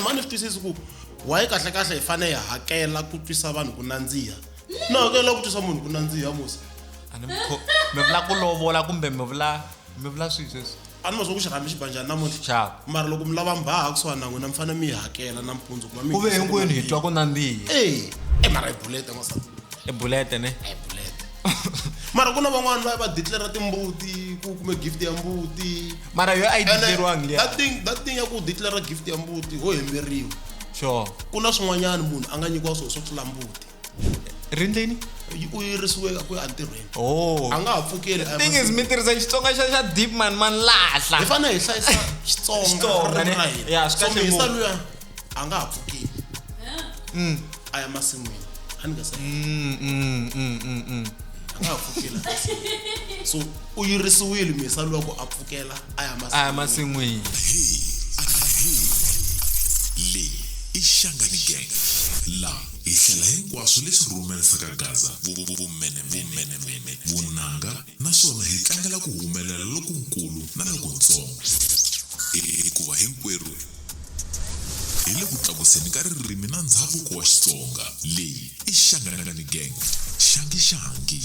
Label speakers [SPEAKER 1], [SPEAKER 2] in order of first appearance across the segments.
[SPEAKER 1] mhani ni swi twisisi ku waye kahle kahle hi fanele hi hakela ku twisa vanhu ku nandziha na hakela ku twisa munhu ku nandziha musa a ni mi kho-
[SPEAKER 2] mi vula ku lovola kumbe mi vula mi vula swihi sweswi a ni ma swa ku xi rhambi
[SPEAKER 1] xibanjhani namuntlha xava mara loko mi lava
[SPEAKER 2] mbaha
[SPEAKER 1] kusuhani na n'wina mi fanele mi yi hakela nampundzu ku va mi ku ve hinkwenu hi twa ku
[SPEAKER 2] nandziha e e mara hi bulete
[SPEAKER 1] n'wansati hi bulete ne
[SPEAKER 2] hi bulete
[SPEAKER 1] mara ku na van'wani va va declara timbuti ku kume gift ya mbuti mara yo a yi
[SPEAKER 2] declariwangi liya that thing that thing ya ku
[SPEAKER 1] declara gift ya mbuti ho hemberiwa sure ku
[SPEAKER 2] na swin'wanyana
[SPEAKER 1] munhu a nga nyikiwa swona swo tlula mbuti rindleni
[SPEAKER 2] yi- u
[SPEAKER 1] yirisiweka ku ya entirhweni oh a nga ha
[SPEAKER 2] pfukeli a ya thing
[SPEAKER 1] is mahlweni. mi tirhisa
[SPEAKER 2] xitsonga xa xa deep man man hi lahla fanele hi hlayisa
[SPEAKER 1] xitsonga Xitsonga, ririmi ne? ra hina Ya, swi so
[SPEAKER 2] kahle mi yisa ngopfu. luya
[SPEAKER 1] a nga ha pfukeli mm. a ya masin'wini a ni nga sa mm, mm, a nga ha pfukela so u yirisiwile misa loko a pfukela a ya masin'wini
[SPEAKER 3] leyi i xangani gang laha hi hlela hinkwaswo leswi rhumerisaka gaza vumene vumene vunanga naswona hi tlangela ku humelela lokunkulu na lokuntsongo, hikuva hinkwerhu hi le ku tlakuseni ka ririmi na ndzhavuko wa Xitsonga. Leyi i Xangangani Gang, Xangi Xangi.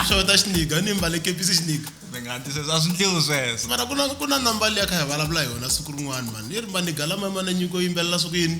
[SPEAKER 1] xota xiniga ni mbale kepisi xiniga ni nga ti sweswo a swi
[SPEAKER 2] ndliwi sweswo mara ku na ku na nambali
[SPEAKER 1] ya kha hi vulavula hi yona siku rin'wana mani yi ri maniga lama ma na nyiko yimbelela siku yini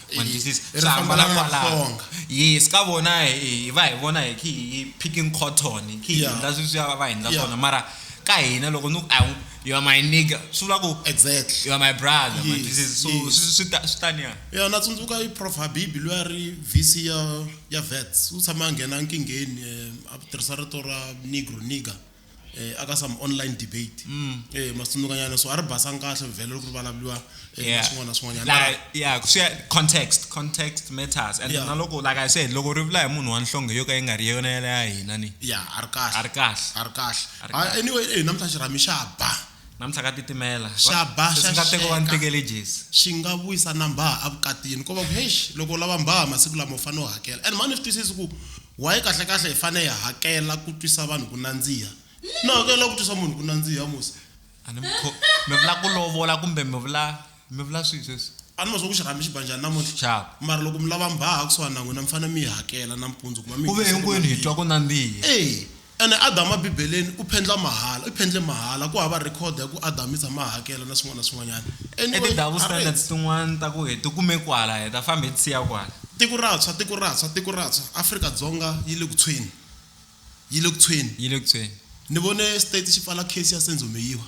[SPEAKER 2] mandisisi swi hambana kwalaho yes ka vona hi va hi vona hi khi hi picking cotton hi khi hi endla swi swi va va hi endla swona mara ka hina loko ni you are my nigga swi vula ku exactly you are my
[SPEAKER 1] brother
[SPEAKER 2] mandisisi so swi ta swi taniya ya na tsundzuka i
[SPEAKER 1] prof habibi loyi a ri vc ya ya vets u tshama a nghena nkingheni eh, a tirhisa rito ra negro nigger eh, aka some online debate mm. eh, masunukanyana so a ri basanga kahle vhele loko ri vulavuriwa eh, swin'wana swin'wanyana context
[SPEAKER 2] context matters and na loko like i said loko ri vula hi munhu wa nhlonge yo ka yi nga ri yona yale ya hina ni ya a ri
[SPEAKER 1] kahle a ri kahle a ri kahle anyway eh, namuntlha xirhami xa ba Namuntlha ka titimela.
[SPEAKER 2] Va, Xa ba, leswi xa nga
[SPEAKER 1] teko va ni xeka. tekele
[SPEAKER 2] Jesi. Xi nga vuyisa
[SPEAKER 1] na mbhaha a vukatini. Ko va ku, heish, loko u lava mbhaha masiku lama u fanele u hakela. And mhani u swi twisisi ku why kahle-kahle hi fanele hi hakela ku twisa vanhu ku nandziha. Ni hakela ku twisa munhu ku nandziha, Musa? A ni mi kho-,
[SPEAKER 2] mi vula ku lovola kumbe mi vula. Mi vula swihi sweswi? A ni ma swa ku xirhambi xi
[SPEAKER 1] ba njhani namuntlha. Xava. Mara loko mi lava mi
[SPEAKER 2] ba hala
[SPEAKER 1] kusuhani na n'wina mi fanele mi yi hakela nampundzu kuma mi Ku ve hitisele hinkwenu hi mali. twa ku
[SPEAKER 2] nandziha. Eya, ene Adamu
[SPEAKER 1] eBibeleni u phendla mahala, u phendle mahala. Ku hava record ya ku Adamu i tshame a hakela na swin'wana na swin'wanyana. I Anyway, ti-double a
[SPEAKER 2] standards rate. tin'wana ta ku hi ti kume kwala, hi ta famba hi ti siya kwala. Tiko ra tshwa, tiko
[SPEAKER 1] ra tshwa, tiko ra tshwa. Afrika-Dzonga yi le ku tshweni, yi le ku tshweni. Yi le ku tshweni. Ni vone state xi pfala case ya Senzo Meyiwa.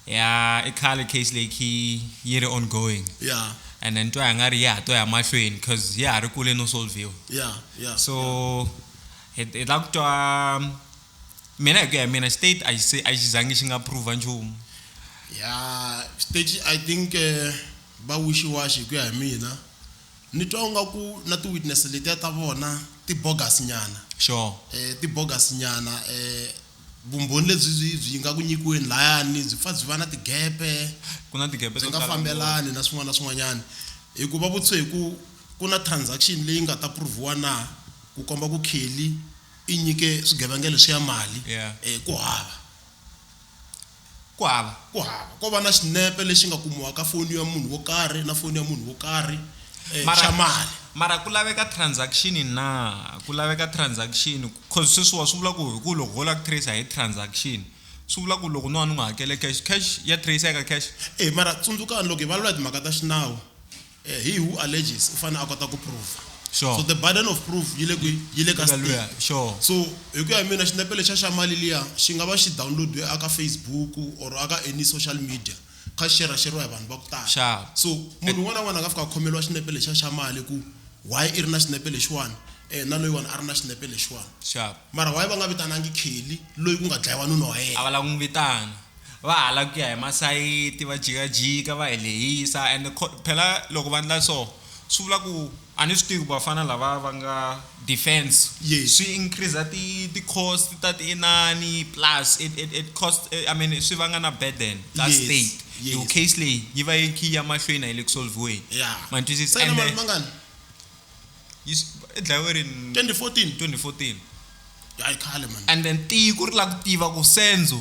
[SPEAKER 1] ya
[SPEAKER 2] i khale case leyi khi yi ri ongoing ya and then twa hi nga ri ya ha to ya mahlweni cause ya ha ri kule no solviwa ya ya so hi hi la ku twa mina hi ku ya hi mina state a xi se a xi zangi xi nga prove nchumu ya
[SPEAKER 1] stage i think eh, va wishiwashi hi ku ya hi mina ni twa nga ku na ti-witness letiya ta vona ti-bogus nyana sure eh,
[SPEAKER 2] ti-bogus
[SPEAKER 1] nyana eh, Vumbhoni lebyi byi byi nga ku nyikiweni layani byi pfa byi va na tigepe, Ku na tigepe byi to nga
[SPEAKER 2] tala ngopfu. fambelani na
[SPEAKER 1] swin'wana na swin'wanyana, hi ku va vutise hi ku ku na transaction leyi nga ta prove-iwa na ku komba ku Kelly i nyike swigevenga leswiya mali Yeah. eh, ku hava. Ku hava, ku hava ko va na xinepe lexi nga kumiwaka foni ya munhu wo karhi na foni ya munhu wo karhi xa mali. Mara ku laveka
[SPEAKER 2] transaction na? Ku laveka transaction coz sweswiwa swi vula ku hi ku loko ho lava ku tracer hi transaction swi vula ku loko no va ni n'wi hakele cash, cash ya tracer-eka cash? E mara tsundzukani
[SPEAKER 1] loko hi vulavula hi timhaka ta xinawu. Eh, he who alleges u fanele a kota ku prova sure. so the burden
[SPEAKER 2] of proof
[SPEAKER 1] yi le kwi yi le ka Eka luya, state sure. so
[SPEAKER 2] hi ku ya hi
[SPEAKER 1] mina xinepe lexa xa mali liya xi nga va xi downloadiwe aka facebook or aka any social media kha xi xeraxeriwa hi vanhu va ku tala Sharp. so munhu un'wana na un'wana a nga fika a khomeriwa xinepe lexa xa mali ku why i ri na xinepe lexiwani um na loyiwani a ri na xinepe lexiwani sharp mara why va nga vitanangi kelly loyi ku nga dlayiwa nuna wa a yena va lava ku n'wi vitana
[SPEAKER 2] va hala ku ya hi masayiti va jikajika va hi lehisa and phela loko va ndla so swi vula ku a ni swi tivi ku vafana lava va nga defense yes. swi increase ti ti cost ta ti inani plus it, it, it cost eh, i mean swi vanga na burden ta yes. state yes. yo case leyi yi va yi khi ya mahlweni a yi le ku solviweni yeah. mantwisisa and mali mangani yi dlayiwe rini 2014 2014 hayi
[SPEAKER 1] khale man and then tiko ri la
[SPEAKER 2] ku tiva ku senzo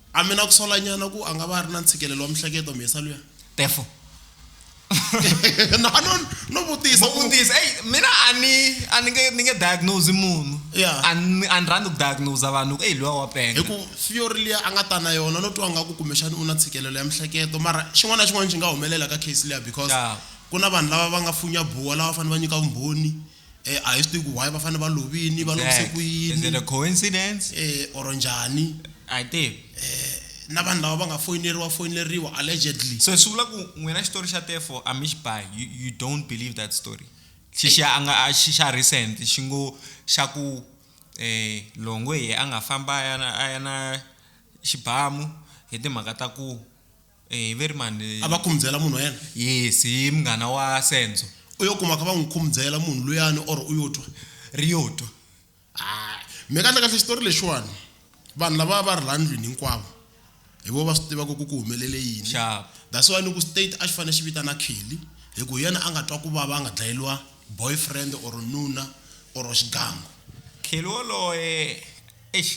[SPEAKER 2] A mi na ku
[SPEAKER 1] solanyana ku a nga va a ri na ntshikelelo wa mihleketo mhesa luya? Tefo.
[SPEAKER 2] Na
[SPEAKER 1] no no vutisa Mo ku vutisa, hey mina
[SPEAKER 2] a ni a ni nge ni nge diagnose munhu. Yeah. A ni a ni rhandzi ku diagnose vanhu ku hey luya wa penga. hi ku theory liya
[SPEAKER 1] a nga ta na yona no twa nga ku kumbexana u na ntshikelelo ya mihleketo mara xin'wana na xin'wana xi nga humelela ka case liya because Yeah. ku na vanhu lava va nga funya buwa lava fanele va nyika vumbhoni. Eh, a hi swi tivi ku why va fanele va lovini va lovise Exact. ku Is it a yini coincidence?
[SPEAKER 2] eh, or njhani
[SPEAKER 1] I think.
[SPEAKER 2] na vanhu
[SPEAKER 1] lava va nga foyineriwa foyineriwa allegedly So swi vula ku n'wina
[SPEAKER 2] xitori xa tefo a mi xi buy. You, you don't believe that story. Xixa a nga a xi xa recent xi ngo xa ku eh Longwe hi a nga famba a ya na a ya na xibamu hi timhaka ta ku Eh, hi ve ri mani a va khumbyela munhu wa
[SPEAKER 1] yena yes hi munghana
[SPEAKER 2] wa senzo u yo kuma kha va n'wi
[SPEAKER 1] khumbyela munhu luyani or u yo twa ri yo twa
[SPEAKER 2] hayi
[SPEAKER 1] mi kahle kahle xitori lexiwani vanhu lava va ri laha ndlwini hinkwavo hi vo va swi tivaka ku ku humelele yini Sharp. that's why ni ku state a xi fanele xi vitana kelly hi ku hi yena a nga twa ku vava a nga dlayeriwa boyfriend or nuna or xigangu kheli
[SPEAKER 2] woloye eish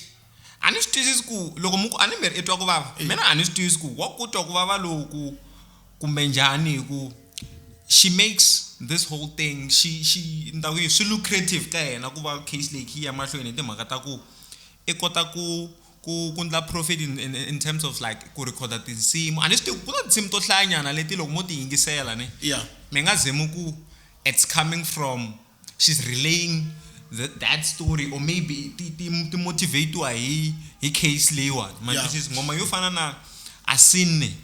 [SPEAKER 2] A ni swi twisisi ku loko muku a ni mbheri i twa ku vava hi mina a ni swi twisisi ku wa ku twa ku vava loku kumbe njhani hi ku she makes this whole thing xi xi ni ta ku yini swi lucrative ka yena ku va case leyi kha yi ya mahlweni hi timhaka ta ku i kota ku ku ku endla profit in in in terms of like ku rhekhoda tinsimu a ni swi tivi ku na tinsimu to hlayanyana leti loko mo ti yingisela ne mi nga ze mi ku it's coming from. She's relaying the, that story or maybe ti, ti, ti motivatiwa hi hi case leyiwani ma Yeah. twisisa ngoma yo fana na asine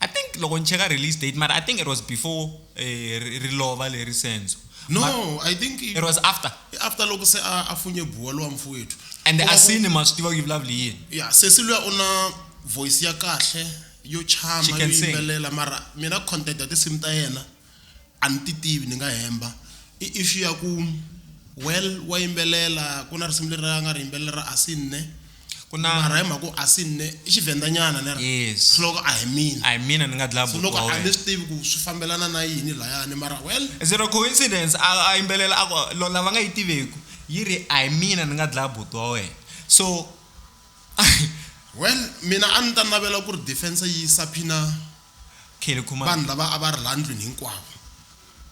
[SPEAKER 2] i think loko ni cheka release date mara i think it was before eh, ri ri lova leri senzo But no i think
[SPEAKER 1] it was after
[SPEAKER 2] after loko se a a funye
[SPEAKER 1] buwa lowa mfowethu and Kuma ku- asine
[SPEAKER 2] ma swi tiva ku yi vulavula hi yini ya sesi luya u na
[SPEAKER 1] voice ya kahle yo She chama can yo sing. yimbelela mara mina content ya tinsimu ta yena A ni ti tivi ni nga hemba. I issue ya ku well wa yimbelela ku na risimu leri a nga ri yimbelela ra Asinne ku na mara hi mhaka ku Asinne i Xivhenda nyana leri yes swi loko a hi
[SPEAKER 2] mina a hi
[SPEAKER 1] mina ni nga dlaya so loko a
[SPEAKER 2] ni swi tivi ku
[SPEAKER 1] swi fambelana na yini layani mara well is it a coincidence
[SPEAKER 2] a a yimbelela a ku lo lava nga yi tiveku yi ri a hi mina ni nga dlaya buti wa wena so
[SPEAKER 1] well mina a ni ta navela ku ri defence yi saphina Kelly
[SPEAKER 2] Khumalo. Vanhu lava a va ri laha
[SPEAKER 1] ndlwini hinkwavo,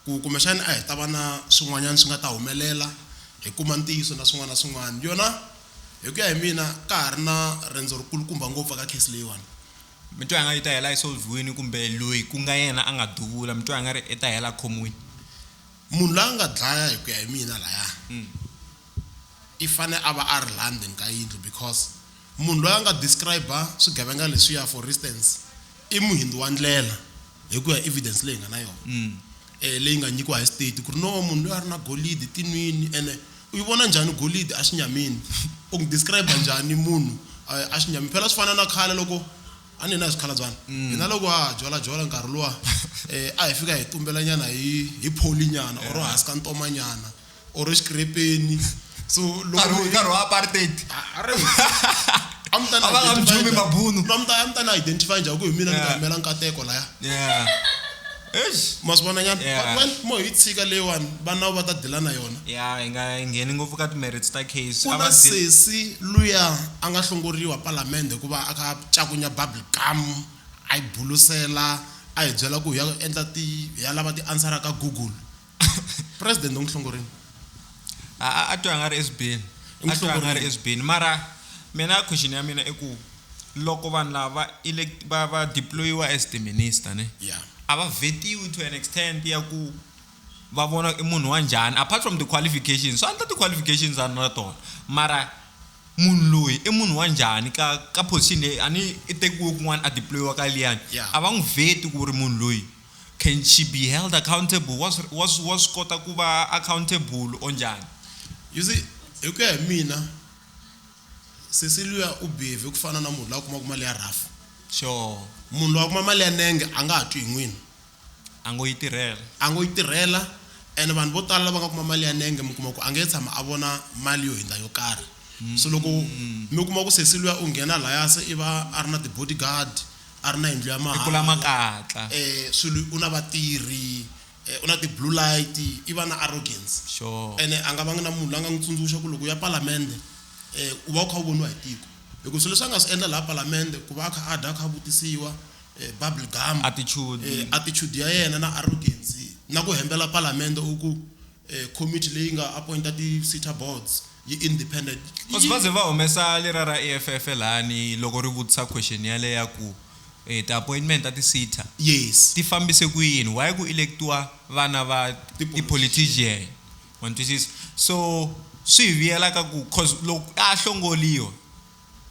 [SPEAKER 1] ku kumbexana a hi ta va na swin'wanyana swi nga ta humelela, hi kuma ntiyiso na swin'wana na swin'wana. Yona hi ku ya hi mina ka ha ri na riendzo ri kulukumba ngopfu eka case leyiwani. Mi twa i nga ri yi
[SPEAKER 2] ta hela yi solve-wini kumbe loyi ku nga yena a nga duvula mi twa i nga ri i ta hela a khomiwini? Munhu
[SPEAKER 1] la nga dlaya hi ku ya hi mina laya i fane a va a ri laha ndzeni ka yindlu because. Munhu loyi a nga describe-a swigevenga leswiya for instance i muhindzu wa ndlela hi ku ya evidence leyi hi nga na yona um leyi nga nyikiwa hi state ku ri no munhu loyi a ri na golidi tinwini ene u yi vona njhani golidi a xinyamini u n'wi describe-a njhani munhu a xinyamini phela swi fana na khale loko a ni hina hi swikhalabyana mm. hina loko ha ha jwalajola nkarhi luwa um a hi fika hi tumbelanyana hi hi pholinyana or hansi ka ntomanyana or exikirepeni so nkarhi loko nkarhi wa apartheid
[SPEAKER 2] a mi ta A va nga
[SPEAKER 1] mi dumi mabunu. a mi ta a mi ta na identify njhani ku hi mina ni nga Yeah. yimela nkateko laya yeah eish ma swi vona nyana Yeah. But when mo hi tshika leyiwani vana va ta dila na yona ya hi nga ngheni
[SPEAKER 2] ngopfu ka timerits ta case ku a na va dzi- sesi
[SPEAKER 1] luya a nga hlongoriwa palamende hikuva a ka cakunya bubble gum a yi bulusela a hi byela ku hi ya endla ti hi ya lava ti ansara ka google president umhlongorini a a-
[SPEAKER 2] a twa a nga ri esbeni a twa a nga ri Emhlongorini. esbeni mara mina question ya mina i ku loko vanhu lava va elect- va va deployiwa as the minister ne ya a va vetiwi to an extent ya ku va vona i munhu wa njhani apart from the qualifications swa endla ti-qualifications a ni na tona mara munhu loyi i munhu wa njhani ka ka position leyi a ni i tekiwe kun'wana a deployiwa ka liyani Yeah. a va n'wi veti ku ri munhu loyi Can she be held accountable? Wa swi wa swi wa swi kota ku va accountable or njhani? You see,
[SPEAKER 1] hi ku ya hi mina sesi luya u behave ku fana na munhu la kumaka mali ya rhafu. Sure.
[SPEAKER 2] Munhu loyi a kuma mali
[SPEAKER 1] ya nenge a nga ha twi hi n'wini. A ngo yi
[SPEAKER 2] tirhela. A ngo yi tirhela
[SPEAKER 1] and vanhu vo tala lava nga kuma mali ya nenge mi kuma ku a nge tshama a vona mali yo hindza yo karhi. So loko mi kuma ku sesi luya u nghena laya se i va a ri na ti-bodyguard a ri na yindlu ya mahala, i kula makatla,
[SPEAKER 2] eh, swilo u na
[SPEAKER 1] vatirhi, eh, u na ti blue light, i va na arrogance, sure, ene a nga
[SPEAKER 2] vangi na munhu
[SPEAKER 1] la nga n'wi tsundzuxa ku loko u ya palamende, eh, u va u kha u voniwa hi tiko hikuva swilo leswi a nga swi endla laha palamende ku va a kha a dya a kha a vutisiwa eh, bubble gum, attitude, eh, attitude ya yena na arrogance na ku hembela palamende u ku eh, committee leyi nga appointa ti-sitter boards yi independent Cause va ze va
[SPEAKER 2] humesa lera ra EFF lani loko ri vutisa question yale ya ku eh, ti-appointment ta ti-sitter yes ti fambise
[SPEAKER 1] ku yini
[SPEAKER 2] why ku electiwa vana va ti-politician wa ni twisisa so swi hi vuyela ka ku cause loko a hlongoliwa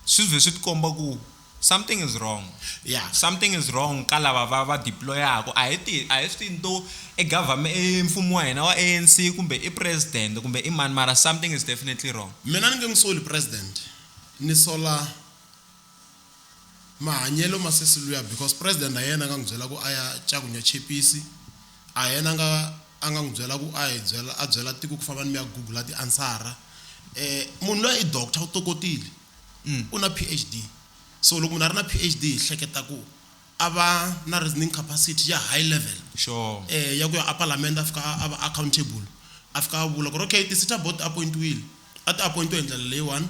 [SPEAKER 2] swi vhe swi tikomba ku Something is wrong. Yeah. Something
[SPEAKER 1] is wrong
[SPEAKER 2] ka lava va va deployaka. A hi ti a hi swi tivi to e government e mfumo wa hina wa ANC kumbe i president kumbe i mani mara something is definitely wrong. Mina ni nge n'wi soli
[SPEAKER 1] president ni sola mahanyelo ma sesi luya because president a hi yena a nga n'wi byela ku a ya cakunya chepisi a hi yena a nga a nga n'wi byela ku a hi byela a byela tiko ku famba ni mi ya gugula tiansara um munhu luya i doctor u tokotile. Mm. U na PhD. So loko munhu a ri na PhD hi hleketa ku a va na reasoning capacity ya high level. Sure. Eh ya
[SPEAKER 2] ku ya a
[SPEAKER 1] parliament a fika a va accountable. A fika a vula ku ri okay ti-SETA board ti appoint-wile. A ti appoint-we hi ndlela leyiwani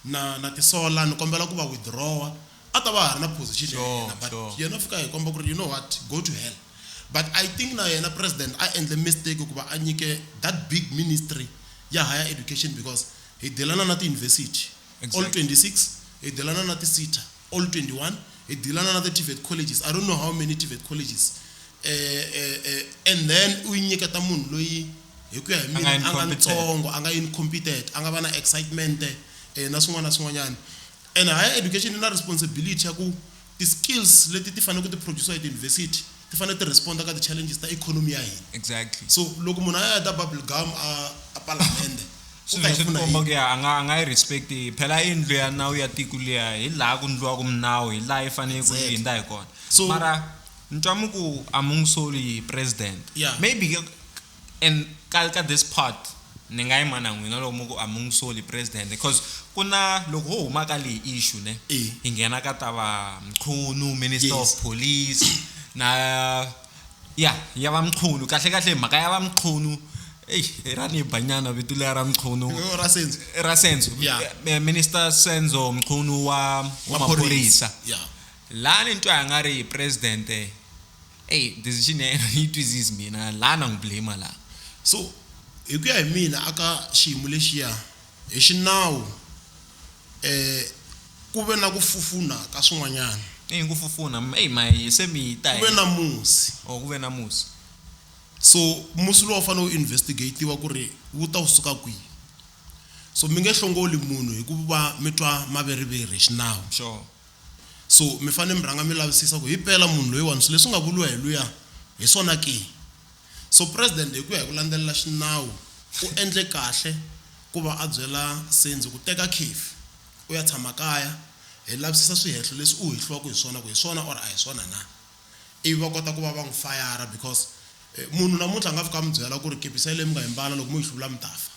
[SPEAKER 1] na na tisola ni kombela ku va withdraw-a. A ta va ha ri na position ya Sure, yena but sure. yena u fika a hi komba ku ri you know what go to hell. But I think na yena president a endle mistake ku va a nyike that big ministry ya higher education because Hi dilana na tiyunivhesiti, all 26, hi dilana na ti SETA, all 21, hi dilana na the TVET colleges, I don't know how many TVET colleges, and then u yi nyiketa munhu loyi hi ku ya hi mina a nga ntsongo, a nga incompetent, a nga va na excitement na swin'wana na swin'wanyana. And higher education yi na responsibility ya ku Ti skills leti ti fanele ku ti producer hi tiyunivhesiti ti fanele ti responder ka ti challenges ta economy ya hina. Exactly. So loko
[SPEAKER 2] munhu a ya a
[SPEAKER 1] ta bubble gum a a palamende u ta hi pfuna
[SPEAKER 2] hi yini? a nga a nga yi respect phela i ndlu ya nawu ya tiko liya hi laha ku ndliwaka minawu hi laha yi fanele ku yi hindza hi kona mara ni twa mi ku a mi n'wi soli president maybe And ka ka this part ni nga yima na n'wina loko mi ku a mi n'wi soli president cause ku na loko ho huma ka leyi issue ne Eh. hi nghena ka ta va Mchunu minister Yes. of police na ya ya va Mchunu kahle kahle hi mhaka ya va Mchunu eyi i ra ni ba nyana vito liya ra Mchunu Yo, ra sense ra Senzo Yeah. Eh, minister Senzo Mchunu wa wa maphorisa Yeah. lani ni twa nga ri president Ey decision ya yena a ni yi twisisi mina la na n'wi blamer la so.
[SPEAKER 1] Hi ku ya hi mina a ka xiyimo lexiya hi xinawu ku ve na ku fufuna ka swin'wanyana. I yini ku fufuna?
[SPEAKER 2] Ey ma hi se mi ta Ku hi. ve na musi.
[SPEAKER 1] Oh ku ve na musi.
[SPEAKER 2] So
[SPEAKER 1] musi lowu a wu fanele wu investigate-iwa ku ri wu ta wu suka kwihi. So mi nge hlongoli munhu hi ku va mi twa maveriveri hi xinawu. Sure.
[SPEAKER 2] So,
[SPEAKER 1] mi fanele mi rhanga mi lavisisa ku himpela munhu loyiwani swilo leswi nga vuriwa hi luya hi swona ke. So President hi ku ya hi ku landzelela xinawu u endle kahle ku va a byela Sendzi ku teka khefu u ya tshama kaya hi lavisisa swihehlo leswi u hehliwaka hi swona ku hi swona or a hi swona na. Ivi va kota ku va va n'wi fayara because munhu namuntlha a nga fika a mi byela ku ri kepisi yaleyo mi nga yi mbala loko mo yi hluvula mi ta fa.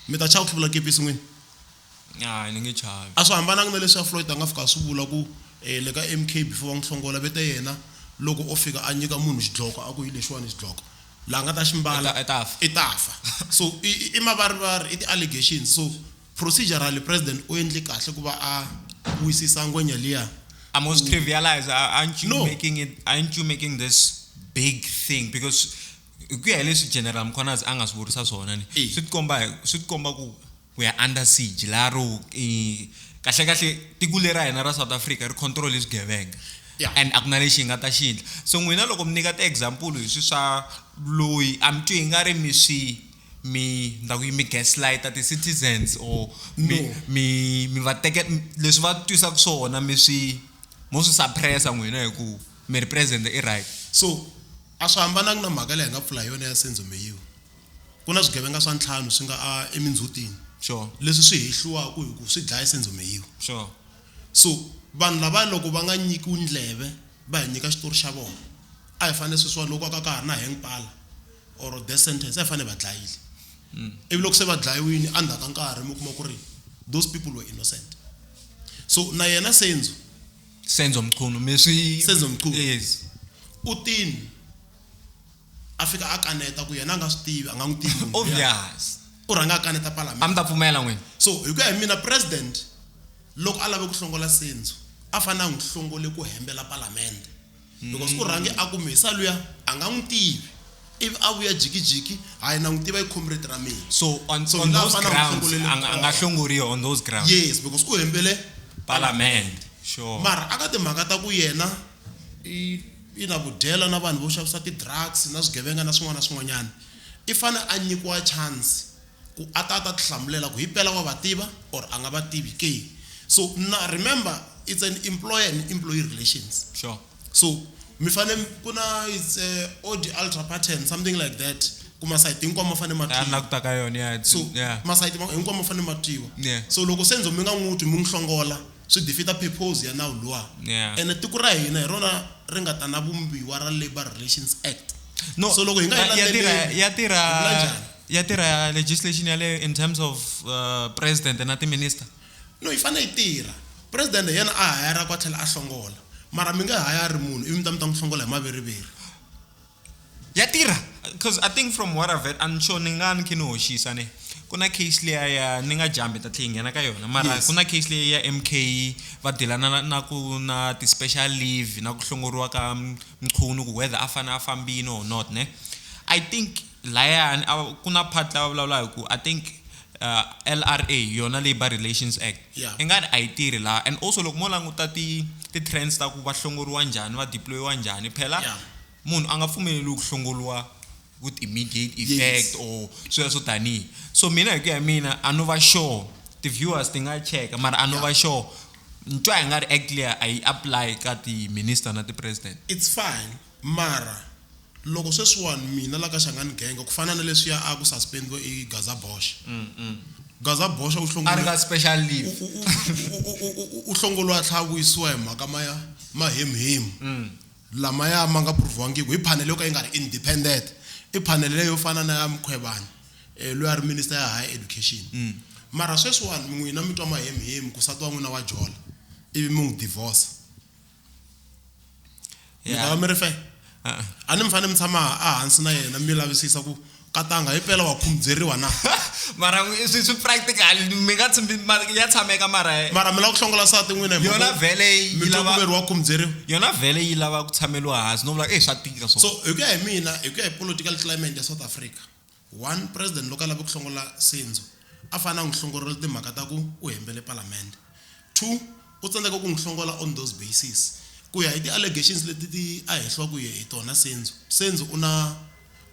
[SPEAKER 1] Mi ta chava ku hluvula kepisi n'wina? Hayi
[SPEAKER 2] ni nge chavi. A swi hambananga na leswi a
[SPEAKER 1] Floyd a nga fika a swi vula ku, E, le ka MK before va n'wi hlongola ve te yena loko o fika a nyika munhu xidloko a ku hi lexiwani xidloko, la a nga ta xi mbala I ta fa. i ta fa. So i i mavarivari, i ti allegations. So procedurally President u endle kahle ku va a wisisa ngwenya liya. I'm was trivialize,
[SPEAKER 2] aren't you No. making it, aren't you making this big thing because hi ku ya hi leswi General Mkhwanazi a nga swi vurisa swona ni, Eya. swi ti komba hi, swi ti komba ku ku ya under siege laha ro kahle kahle tiko leri ra hina ra South Africa ri control hi swigevenga yeah. and a ku na lexi hi nga ta xi endla so n'wina loko mi nyika ti-example hi swi swa loyi a mi twi hi nga ri mi swi mi ndza ku yi mi gaslighter ti-citizens or mi mi mi va teke leswi va twisaka swona mi swi mo swi suppressa n'wina hi ku mi ri president i right so
[SPEAKER 1] a swi hambanangi na mhaka leyi hi nga pfula hi yona ya senzo meyiwa Ku na swigevenga swa ntlhanu swi nga a emindzhutini. Sure. Leswi swi
[SPEAKER 2] hehliwaka
[SPEAKER 1] hi ku swi dlaya sendzomeyiwa. Sure.
[SPEAKER 2] So
[SPEAKER 1] vanhu lava loko va nga nyikiwi ndleve va hi nyika xitori xa vona a hi fanele sweswiwani loko ka ka ha ri na hang pala or death sentence a hi fanele va dlayile ivi loko se va dlayiwini endzhaku ka nkarhi mi kuma ku ri those people were innocent so na yena sendzo Senzo Mchunu mi swi Senzo Mchunu. yes
[SPEAKER 2] u tini
[SPEAKER 1] a fika a kaneta ku yena a nga swi tivi a nga n'wi tivi munhu luya. obvious
[SPEAKER 2] u rhanga a kaneta
[SPEAKER 1] a mi palamende ta pfumela n'wini
[SPEAKER 2] so hi ku ya hi mina
[SPEAKER 1] president loko a lave ku hlongola senzo a fanele a n'wi hlongole ku hembela palamende because u rhange a ku mesa luya a nga n'wi tivi ivi a vuya jikijiki hayi na n'wi tiva i comrade ra mina so on, So, on hi laha those
[SPEAKER 2] fana grounds hlongolele a nga- a nga kona. hlongoriwa on those grounds yes because u hembele
[SPEAKER 1] palamende
[SPEAKER 2] sure mara aka timhaka ta
[SPEAKER 1] ku yena i Ina, ku dyela na vanhu vo xavisa ti drugs na swigevenga na swin'wana na swin'wanyana. I fane a nyikiwa chance ku a ta a ta ti hlamulela ku hipela wa va tiva or a nga va tivi ke. So na remember it's an employer and employee relations. Sure. So
[SPEAKER 2] mi
[SPEAKER 1] fane ku na it's a odi alter pattern something like that ku masayiti hinkwawo ma fane ma Ya na ku ta ka yona ya
[SPEAKER 2] so ya. masayiti ma
[SPEAKER 1] hinkwawo ma fane ma twiwa. Yeah. So loko se ndzo mi nga n'wi twi mi n'wi hlongola swi defeater purpose ya nawu luwa Yeah. ene tiko ra hina hi rona ri nga ta na vumbiwa ra labour relations act no so loko hi nga yi
[SPEAKER 2] ya-
[SPEAKER 1] ya tirha landzeleli,
[SPEAKER 2] ya hi tirha vula njhani? ya tirha legislation yaleyo in terms of uh, president na timinister no yi fanele yi
[SPEAKER 1] tirha president hi yena a hayara ku a tlhela a hlongola mara mi nge hayari munhu ivi mi ta mi ta n'wi hlongola hi maveriveri
[SPEAKER 2] ya tirha because i think from what i've i'm sure ni nga ni khe ni hoxisa ne ku na case leya ya ni nga jambi ta tlhe yi nghena ka yona mara ku na case leyi ya m k va dilana na na ku na ti-special leave na ku hlongoriwa ka mchunu ku whether a fanele a fambile or not ne i think layani a ku na part lava vulavula hi ku i think uh, LRA yona Labor Relations Act yeah. i nga ri a yi tirhi laha and also loko mo languta ti ti-trends ta ku va hlongoriwa njhani va deployiwa njhani phela yeah. munhu a nga pfumeleli ku hlongoriwa with immediate effect yes. or swilo swo tanihi so mina hi ku ya mina a no va sure ti-viewers ti nga cheka mara a no va sure ntwa hi nga ri act leya a yi apply ka ti-minister na ti-president it's fine
[SPEAKER 1] Mara, loko sweswiwani mina la ka Shangani Genge ku fana na leswiya a ku suspendiwe i Gaza Bosch. Gaza Bosch u A ri ka special leave. u
[SPEAKER 2] u
[SPEAKER 1] u u u u hlongoliwe a tlhela a vuyisiwa hi mhaka ma mahemhemu lamaya ma nga prove-wangiku hi phanele yo ka yi nga ri independent. I phanele leyi yo fana na ya Mkhwebane loyi a ri minister ya Higher Education. Mara sweswiwani n'wina mi twa mahemhemu ku nsati wa n'wina wa jola ivi mi n'wi divorce. mi ta va mi ri fe a a ni mi fanele mi tshama a hansi na yena mi lavisisa ku katanga hi pela wa khumbyeriwa na mara n'wi- swi
[SPEAKER 2] swi practical mi nga tshimbi ma- ya tshameka mara mara mi lava ku hlongola sati
[SPEAKER 1] n'wina hi yona mhaka ku vhele yi mi
[SPEAKER 2] twa ku lava veriwa khumbyeriwa yona
[SPEAKER 1] vhele yi lava
[SPEAKER 2] ku tshameliwa hansi no vula ku e swa tika so swo hi ku ya hi mina
[SPEAKER 1] hi ku ya hi political climate ya south africa One, President loko a lava ku hlongola Senzo a fanele a n'wi hlongorela timhaka ta ku u hembele Palamende. Two, u tsandzeka ku n'wi hlongola on those basis. Ku ya hi ti allegations leti ti a hehliwa ku hi tona Senzo, Senzo u na,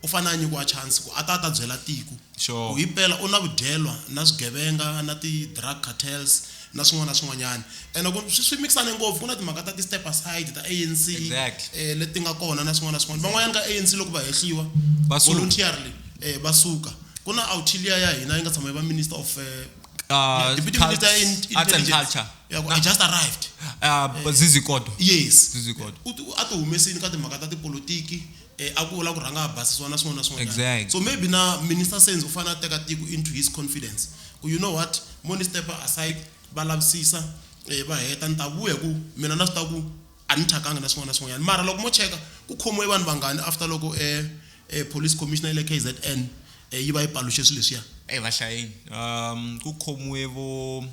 [SPEAKER 1] u fanele a nyikiwa chance ku a ta a ta byela tiko Sure. ku himpela u na vudyelwa na swigevenga na ti drug cartels, na swin'wana na swin'wanyana ene ku swi swi mixane ngopfu ku na timhaka ta ti-step aside ta ANC Exactly. eh, leti nga kona na swin'wana na swin'wana van'wanyana ka ANC loko va hehliwa Va suka. voluntarily eh, va suka ku na autilia ya hina yi nga tshama yi va minister of eh, Uh, deputy Cult- minister in Arts and intelligence. Culture. Yeah,
[SPEAKER 2] ku- I just arrived
[SPEAKER 1] Uh, Zizi
[SPEAKER 2] Kodo. yes Zizi
[SPEAKER 1] Kodo. U ti- a ti humesini ka timhaka ta tipolitiki Eh, a ku vula ku rhanga a basisiwa na swin'wana na swin'wanyana Exact. so maybe na minister senzo u fanele a teka tiko into his confidence ku you know what mo ni step aside va lavisisa eh, va heta ni ta vuya hi ku mina na swi ta ku a ni thyakanga na swin'wana na swin'wanyana mara loko mo cheka ku khomiwe vanhu vangani after loko eh, eh, police commissioner ya le k z n eh, yi va yi paluxe swilo leswiya Hey, vashayeni um
[SPEAKER 2] ku khomiwe vo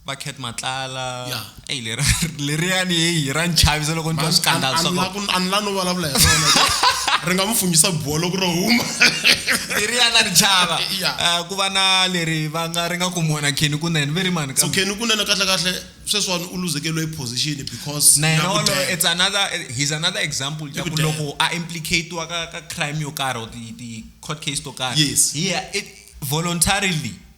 [SPEAKER 2] va cat matlala Yeah. eyi lera- leriyani heyi ra ni chavisa loko ni twa swikandalo swa kona. ani la no
[SPEAKER 1] vulavula hi rona ri nga n'wi funyisa buwa loko ro huma leriyani
[SPEAKER 2] a ni chava Yeah. Eh, ku va na leri va nga ri nga ku mona kheni kunene ve
[SPEAKER 1] ri
[SPEAKER 2] mani so kambe kheni kunene
[SPEAKER 1] kahlekahle
[SPEAKER 2] sweswiwani
[SPEAKER 1] u luzekeliwe hi position because na yena ya ku waloye dya. it's another
[SPEAKER 2] he's another example ya ku Ekudela. loko a implicatiwa ka ka crime yo karhi or ti ti court case to karhi Yes. he it voluntarily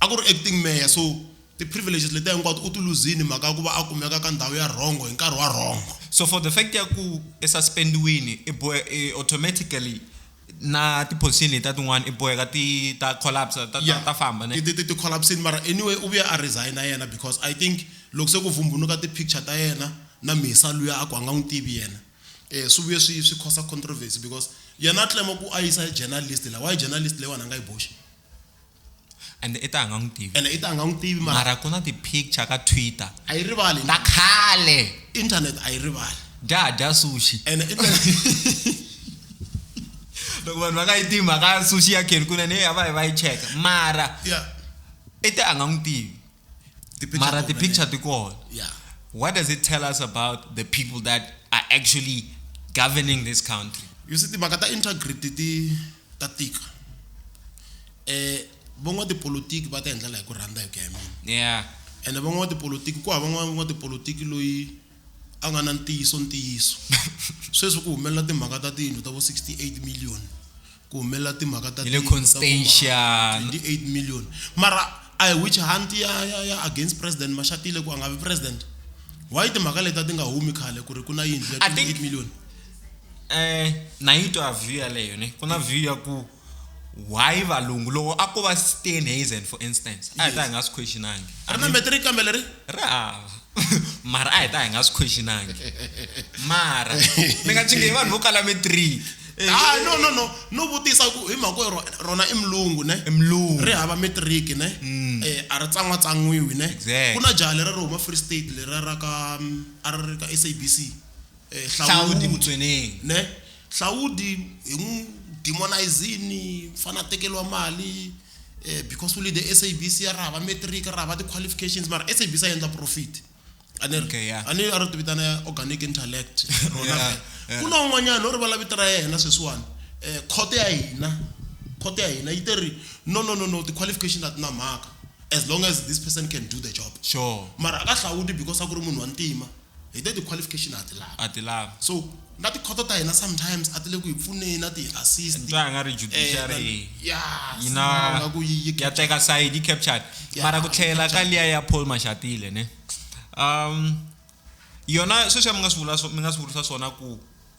[SPEAKER 2] a ku ri
[SPEAKER 1] acting mayor so ti-privileges letiya hinkwato u ti luzini mhaka ya ku va a kumeka ka ndhawu ya rhongo hi nkarhi wa rhongo so for the fact ya
[SPEAKER 2] ku i suspendiwini i bohe i automatically na ti-position letiya tin'wana i boheka ti ta collapse ta, ta, ta famba ne ti, ti, ti collapsini mara
[SPEAKER 1] anyway u vuye a resigna yena because i think loko se ku vumbunuka ti-picture ta yena na misa luya a ku a nga n'wi tivi yena um swi vuye swi swi khosa controversy because yena a tlema ku a yisa journalist la why journalist leyiwani a nga yi boxi
[SPEAKER 2] ende i ta a nga n'wi tivi ene i ta a nga n'wi tivi
[SPEAKER 1] mara mara ku na ti-picture
[SPEAKER 2] ka twitter a yi rivali ta
[SPEAKER 1] khale
[SPEAKER 2] internet a yi
[SPEAKER 1] rivali dya dya sushi
[SPEAKER 2] ene internet loko vanhu va nga yi tivi mhaka ya sushi ya kheni kunene heyi a va yi va yi cheka mara ya i te a nga n'wi tivi mara ti-picture ti kona yeah what does it tell us about the people that are actually governing this country you see timhaka ta
[SPEAKER 1] integrity ti ta tika eh van'watipolitiki va ta hi ndlela hi ku rhandza hi ku ya hi mina yeah ene van'watipolitiki ku hava n'wan'watipolitiki loyi a nga na ntiyiso ntiyiso sweswi ku humelela timhaka ta tiyindlu ta vo 68 million ku humelela timhaka ta tiyindlu ta
[SPEAKER 2] vo 28 million
[SPEAKER 1] mara a hi which hunt ya ya ya against president mashatile ku a nga vi president why timhaka leti ti nga humi khale ku ri ku na yindlu ya 28 million eh
[SPEAKER 2] na yi twa view yaleyo ne ku na view ya ku why valungu loko a ko va Steenhuisen for instance a hi ta hi nga swi questionangi ri na matric kambe
[SPEAKER 1] leri ri hava
[SPEAKER 2] mara a hi ta hi nga swi questionangi mara mi nga chingehi vanhu vo kala matric ah no no no
[SPEAKER 1] no vutisa ku hi mhaka yo rona i mulungu ne i mulungu ri hava matric ne mm. eh a ri tsan'wa tsan'wiwi ne ku na jaha leri ri huma free state leri ra ka mm, a ri ri ka SABC eh, hlawudi
[SPEAKER 2] mutsweneni ne
[SPEAKER 1] hlawudi hi n'wi demonizini mfana a tekeriwa mali eh, because u lide sabc ya rahava matric rahava ti-qualifications mara sabc a endla profit okay, yeah. a ni a ri ti vitana organic intellect rona yeah, yeah. ku na un'wanyana o rivala vito ra yena sweswiwani um khoto ya hina khoto ya hina yi te ri no no no no ti-qualification a ti na mhaka as long as this person can do the job sure mara a ka
[SPEAKER 2] hlawuti
[SPEAKER 1] because a ku ri munhu wa ntima hi te ti-qualification ha ti lavi a ti lavi so na tikhoto ta hina sometimes a ti le ku hi pfuneni a ti hi assist twa nga ri judiciary
[SPEAKER 2] eh, ya yina nga ku yi ya teka side yi captured mara ku tlhela ka liya ya Paul Mashatile ne um yona sweswi mi nga swi vula mi nga swi vurisa swona ku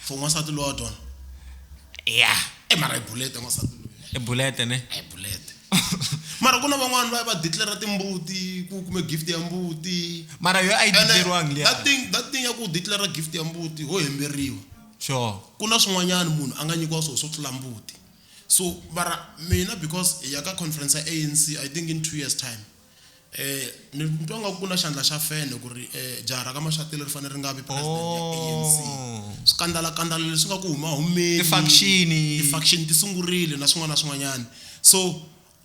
[SPEAKER 2] for n'wansati lowa
[SPEAKER 1] twana ya e mara i bulete n'wansati loyi i bulete
[SPEAKER 2] ne i bulete
[SPEAKER 1] mara ku na van'wani va va declara timbuti ku kume gift ya mbuti mara yo a yi
[SPEAKER 2] declariwangi liya that thing that thing ya ku declara
[SPEAKER 1] gift ya mbuti ho hemberiwa sure ku
[SPEAKER 2] na swin'wanyana
[SPEAKER 1] munhu a nga nyikiwa swona swo tlula mbuti so mara mina because hi ya ka conference ya anc i think in two years time Um ni ni twa nga ku na xandla xa fene ku ri um jaha ra ka Mashatile ri fanele ri nga vi president ya A_N_C swikandalakandala leswi nga ku huma humeni ti-faction-i ti-faction ti sungurile na swin'wana na swin'wanyana so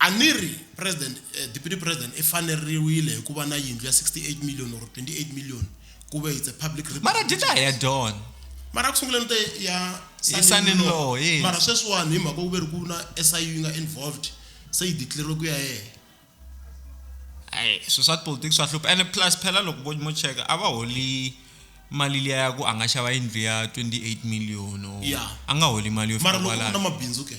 [SPEAKER 1] a ni ri president deputy president i faneriwile hi ku va na yindlu ya sixty eight million or twenty eight million ku ve it's a public mara data a hi ya
[SPEAKER 2] dyona mara ku sunguleni
[SPEAKER 1] te ya Hi son in law,
[SPEAKER 2] yes. mara sweswiwani
[SPEAKER 1] hi mhaka ku ve ri ku na S_I_U yi nga involved se yi declare-iwe ku ya yena. hayi
[SPEAKER 2] swilo swa tipolotiki swa hlupha ene plus phela loko vo mo cheka a va holi mali liya ya ku a nga xava yindlu ya twenty eight million or Yeah. a nga holi mali yo mara fika loko ku na kwalano mabindzu ke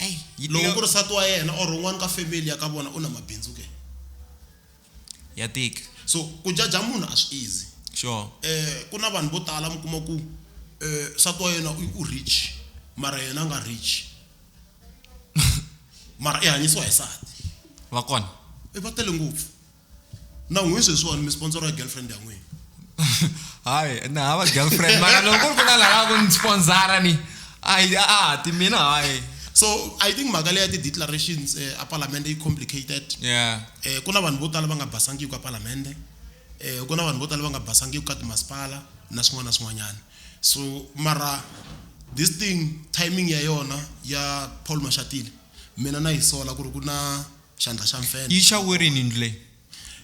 [SPEAKER 1] Ai, yi loko tika- ku ri nsati wa yena or un'wana ka family ya ka vona u na mabindzu ke
[SPEAKER 2] ya tika so ku jaja
[SPEAKER 1] munhu a swi easy sure eh
[SPEAKER 2] ku na vanhu
[SPEAKER 1] vo tala mi kuma ku eh nsati wa yena u rich mara yena a nga rich mara i hanyisiwa hi nsati va
[SPEAKER 2] kona i va tele ngopfu
[SPEAKER 1] na n'wini sweswiwani mi sponsor ya girlfriend ya n'wina hayi
[SPEAKER 2] na hava girlfriend mara loko ku ri ku na lava ku ni sponsora ni a a ti mina hayi so i think
[SPEAKER 1] mhaka leya ti-declarations um eh, apalamende yi complicated yeah. um ku na vanhu vo tala va nga basangiki ka palamende um ku na vanhu vo tala va nga basangiki ka timasipala na swin'wana na swin'wanyana so mara this thing timing ya yona ya paul mashatile mina na yi sola ku ri ku na xandla xa mfene yi xa werini ndlu
[SPEAKER 2] leyi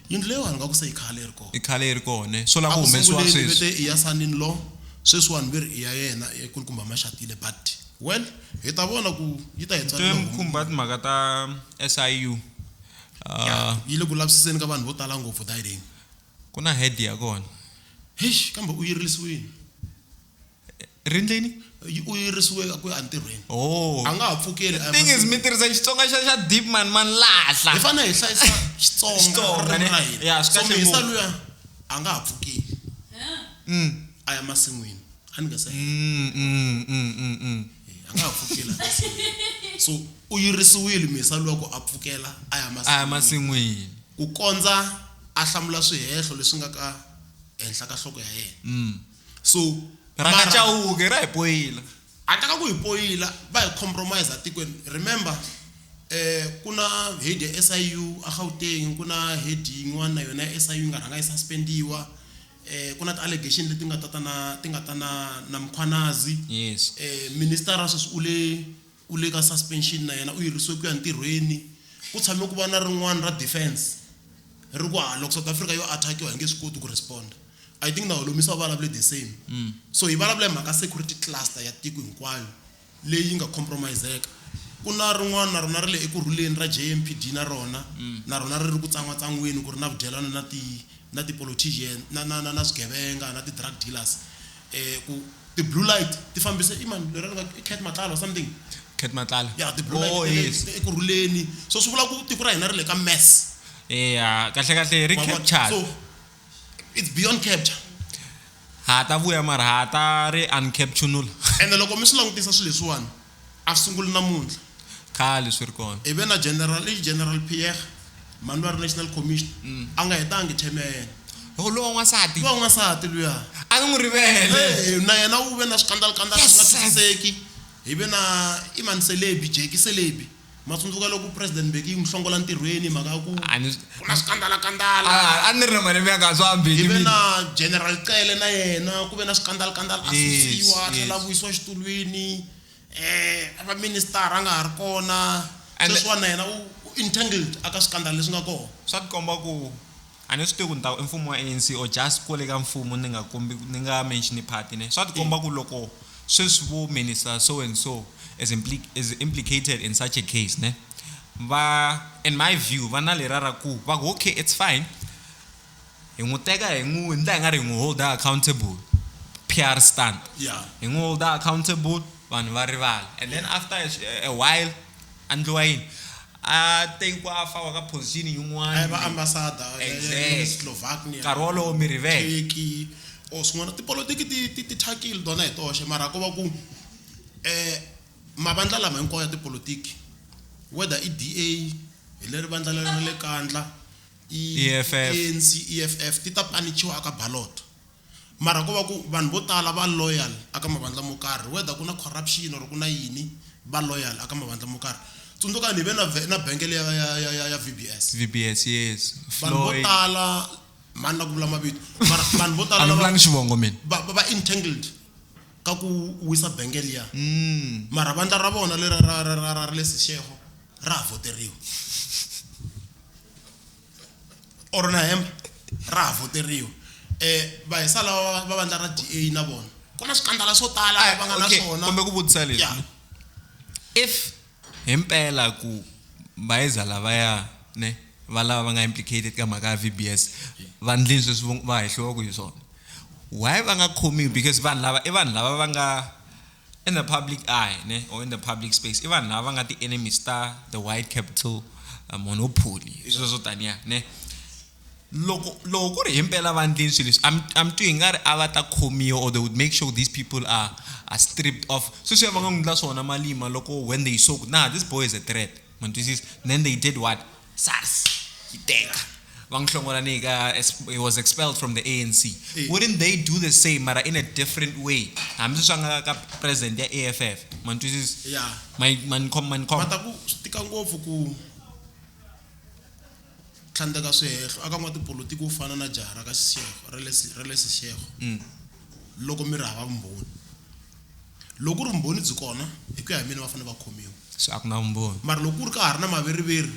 [SPEAKER 2] Yindlu leyiwani
[SPEAKER 1] ingaku se i khale yi ri kona. I khale yi ri kona. Swo
[SPEAKER 2] lava ku humesiwa sweswi. A ku sunguleni vete i ya son in law,
[SPEAKER 1] sweswiwani ve ri i ya yena i nkulukumba Mashatile but well hi ta vona ku yi ta hi tswalela homu. Ni twe mi khumba timhaka ta
[SPEAKER 2] SIU. Ya,
[SPEAKER 1] yi le ku lavisiseni ka vanhu vo tala ngopfu Dayideni. Ku na head
[SPEAKER 2] ya kona. Heish kambe
[SPEAKER 1] u yirilisiwini.
[SPEAKER 2] rindlini yi- u
[SPEAKER 1] yirisiweke ku ya entirhweni oh a nga ha pfukeli a ya thing is mahlweni. mi tirhisa
[SPEAKER 2] xitsonga xa xa deep man man lahla hi fanele hi hlayisa xitsonga
[SPEAKER 1] Xitsonga, ririmi ne? ra hina. Ya, swi So, kahle mi hisa ngopfu. luya a nga ha pfukeli a ya masin'wini a ni nga se heta. Mm, mm, mm, mm, mm. Eh, a nga ha pfukela a ya masin'wini. so u yirisiwile misa loko a pfukela a ya a ya masin'wini masin'wini
[SPEAKER 2] ku kondza
[SPEAKER 1] a hlamula swihehlo leswi nga ka henhla ka nhloko ya yena Mm. so rangachauke
[SPEAKER 2] ra hi poyila handle ka ku hi
[SPEAKER 1] poyila va hi compromise atikweni remember eh ku na head ya SIU a Gauteng ku na head yin'wana na yona ya SIU yi nga rhanga yi suspendiwa eh ku na ti allegation leti nga ta ta na ti nga ta na na Mkhwanazi yes eh
[SPEAKER 2] minister sweswi
[SPEAKER 1] u le U le ka suspension na yena u yirisiwe ku ya ntirhweni. Ku tshame ku va na rin'wana ra defence ri ku hala loko South Africa yo attackiwa hi nge swi koti ku responder. I think na Holomisa u vulavule the same. So hi vulavula hi mhaka security cluster ya tiko hinkwayo leyi nga compromise-eka. Ku na rin'wana na rona ri le eku rhuleni ra JMPD na rona na rona ri ri ku tsan'watsangweni ku ri na vudyelwana na ti na ti-politician na na na na swigevenga na ti-drug dealers. eh ku ti blue light ti fambise i mani lera nga i Cat Matlala or something Cat Matlala ya
[SPEAKER 2] ti blue oh, light yes.
[SPEAKER 1] eku rhuleni so swi vula ku tiko ra hina ri le ka mess eya
[SPEAKER 2] kahle kahle ri capture so
[SPEAKER 1] it's beyond capture ha
[SPEAKER 2] ta vuya mara ha ta ri uncaptionula ene loko mi swi
[SPEAKER 1] langutisa swilo leswiwani a sunguli namuntlha. Khale swi ri
[SPEAKER 2] kona. Hi ve na General, i
[SPEAKER 1] General Pierre, mhani lwa ri National Commissioner, a nga hetangi term ya yena. Loko luwa n'wansati.
[SPEAKER 2] Luwa n'wansati luya.
[SPEAKER 1] A ni n'wi rivele.
[SPEAKER 2] Hey, na yena u ve na
[SPEAKER 1] swikandalakandala swi nga twisiseki. Hi ve na, i mani Selebi, Jackie Selebi. Ma tsundzuka loko President Mbeki yi n'wi hlongola ntirhweni hi mhaka ya ku A ni- ku na swikandalakandala. a a ni ri na
[SPEAKER 2] malembe ya kahle swa Mbeki Hi ve mina. na General
[SPEAKER 1] Cele na yena ku ve na swikandalakandala a Yes, susiwa a tlhela a yes. vuyisiwa exitulwini um a va minister a nga ha ri kona And- sweswiwani na yena u u entangled aka swikandala leswi nga kona swa tikomba ku
[SPEAKER 2] a ni swi tivi ku ni ta ku i mfumo wa ANC or just kwale ka mfumo ni nga kombi ni nga mention party ne swa tikomba ku loko sweswi vo minister so and so is, impli, is implicated in such a case ne va in my view va na lera ra ku va ku okay it's fine hi n'wi teka hi n'wi ndla hi nga ri hi n'wi holder accountable PR stunt yeah. hi n'wi holder accountable vanhu va rivala and then after a, a while andliwa yini a tiko a faka ka position yin'wana a yi va ambassador
[SPEAKER 1] exactly. Slovakia
[SPEAKER 2] nkarhi wolowo mi rivele Turkey or swin'wana
[SPEAKER 1] tipolotiki ti ti ti thyakile tona hi toxe mara ko va ku eh mavandla lama hinkwawo ya tipolotiki whether i DA hi leri vandla leri ra le kandla i ANC EFF ti ta panichiwa aka ballot Mara ko va ku vanhu vo tala va loyal a ka mavandla mo karhi whether ku na corruption or ku na yini va loyal a ka mavandla mo karhi. Tsundzukani hi ve na vhe na bank liya ya ya ya ya VBS. VBS yes vanhu
[SPEAKER 2] vo Floyd. tala
[SPEAKER 1] mhani na ku vula mavito mara vanhu vo A tala ni lava vulangi xivongo mina. va va va entangled ka ku wisa bank liya mara vandla ra vona leriya ra ra ra ra ra le Seshego ra ha voteriwa. or na hembe ra ha voteriwa um vahisa lava va vandla ra d a na vona ku na swikandala swo tala ah, va nga na swona kumbe ku vutisa leswi
[SPEAKER 2] if hi mpela ku vahisa lavaya ne va lava va nga implicated ka mhaka ya v b s vandlini sweswi va hehliwaku hi swona why va nga khomiwi because vanhu lava i vanhu lava va nga In the public eye ne or in the public space i vanhu lava va nga ti-enemies ta the white capital uh, monopoly i swilo swo taniya ne loko loko ku ri hi mpela va ndleni swilo leswi a mi twi hi nga ri a va ta khomiwa or they would make sure these people are, are stripped off sweswiya va nga n'wi endla swona malima loko when they saw ku nah this boy is a threat mantwisisa then they did what sars yi teka va n'wi hlongola ni ka he was expelled from the anc eh. wouldn't they do the same mara in a different way hambi swi swa nga ka president ya a f f mantwisisa
[SPEAKER 1] manikhomanikhomataku swi tika ngopfu ku tlhandleka swihehlo aka n'watipolotiki wo fana na jaha ra ka xixeho ra le xixeho mm. loko mi ri hava vumbhoni Loko ku ri vumbhoni byi kona, hi ku ya hi mina va fanele va khomiwa. Se a ku na vumbhoni.
[SPEAKER 2] Mara loko ku ri ka ha ri na
[SPEAKER 1] maveriveri,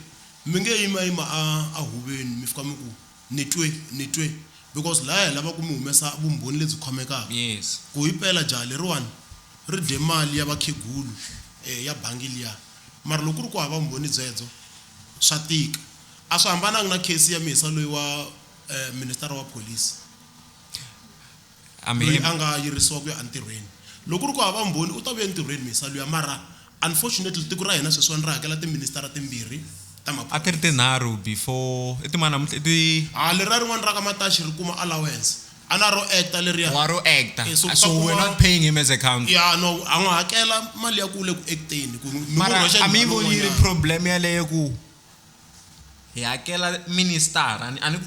[SPEAKER 1] mi nge yimayima a, a huveni mi fika mi ku, Ni twe, ni twe. Because laya hi lava ku mi humesa vumbhoni lebyi khomekaka. Yes. Ku himpela
[SPEAKER 2] jaha
[SPEAKER 1] leriwani ri dye mali ya vakhegulu, e, ya bangi liya. Mara loko ku ri ku hava vumbhoni byebyo, swa tika. A swi hambananga na case ya Mhisa loyi wa, e, minister wa police. Amen. loyi a nga yirisiwa ku ya entirhweni loko ri ku hava mbhoni u ta vuya entirhweni misa luya mara unfortunately tiko ra hina sweswiwani ri hakela tiministara timbirhi ta a ti ri tinharhu
[SPEAKER 2] before i timana namuntlha i ti ha
[SPEAKER 1] leriya rin'wana ra ka mataxi ri kuma allowance a na ro actor leriya wa ro actor Eh, so ku
[SPEAKER 2] ta so we're kuma- not paying him as a council ya no a n'wi hakela
[SPEAKER 1] mali ya ku le ku acteni ku mi n'wi mara rhwexa a mi yi njhani voni yi ri
[SPEAKER 2] un'wanyana? problem yaleyo ku hi hakela ministara a ni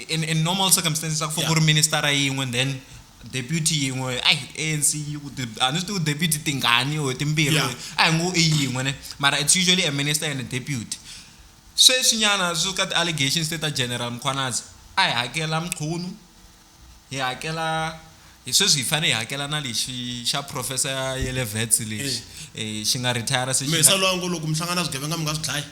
[SPEAKER 2] in, in normal circumstances a ku fo ku ri ministara yin'we then deputy yin'we ai anc yi ku a ni swi tivi deputy tingani or timbirhi a hi ngo i yin'we ne mara it's usually a minister and a deputy sweswinyana swi ka ti-allegations te ta general mkhwanazi a hi hakela mchunu hi hakela hi sweswi hi fanele hi hakela na lexi xa professor ya yele vets lexi eh, xi nga retire se xi mesa nga- loyi a ngo loko mi hlangana
[SPEAKER 1] na swigevenga mi nga swi dlayi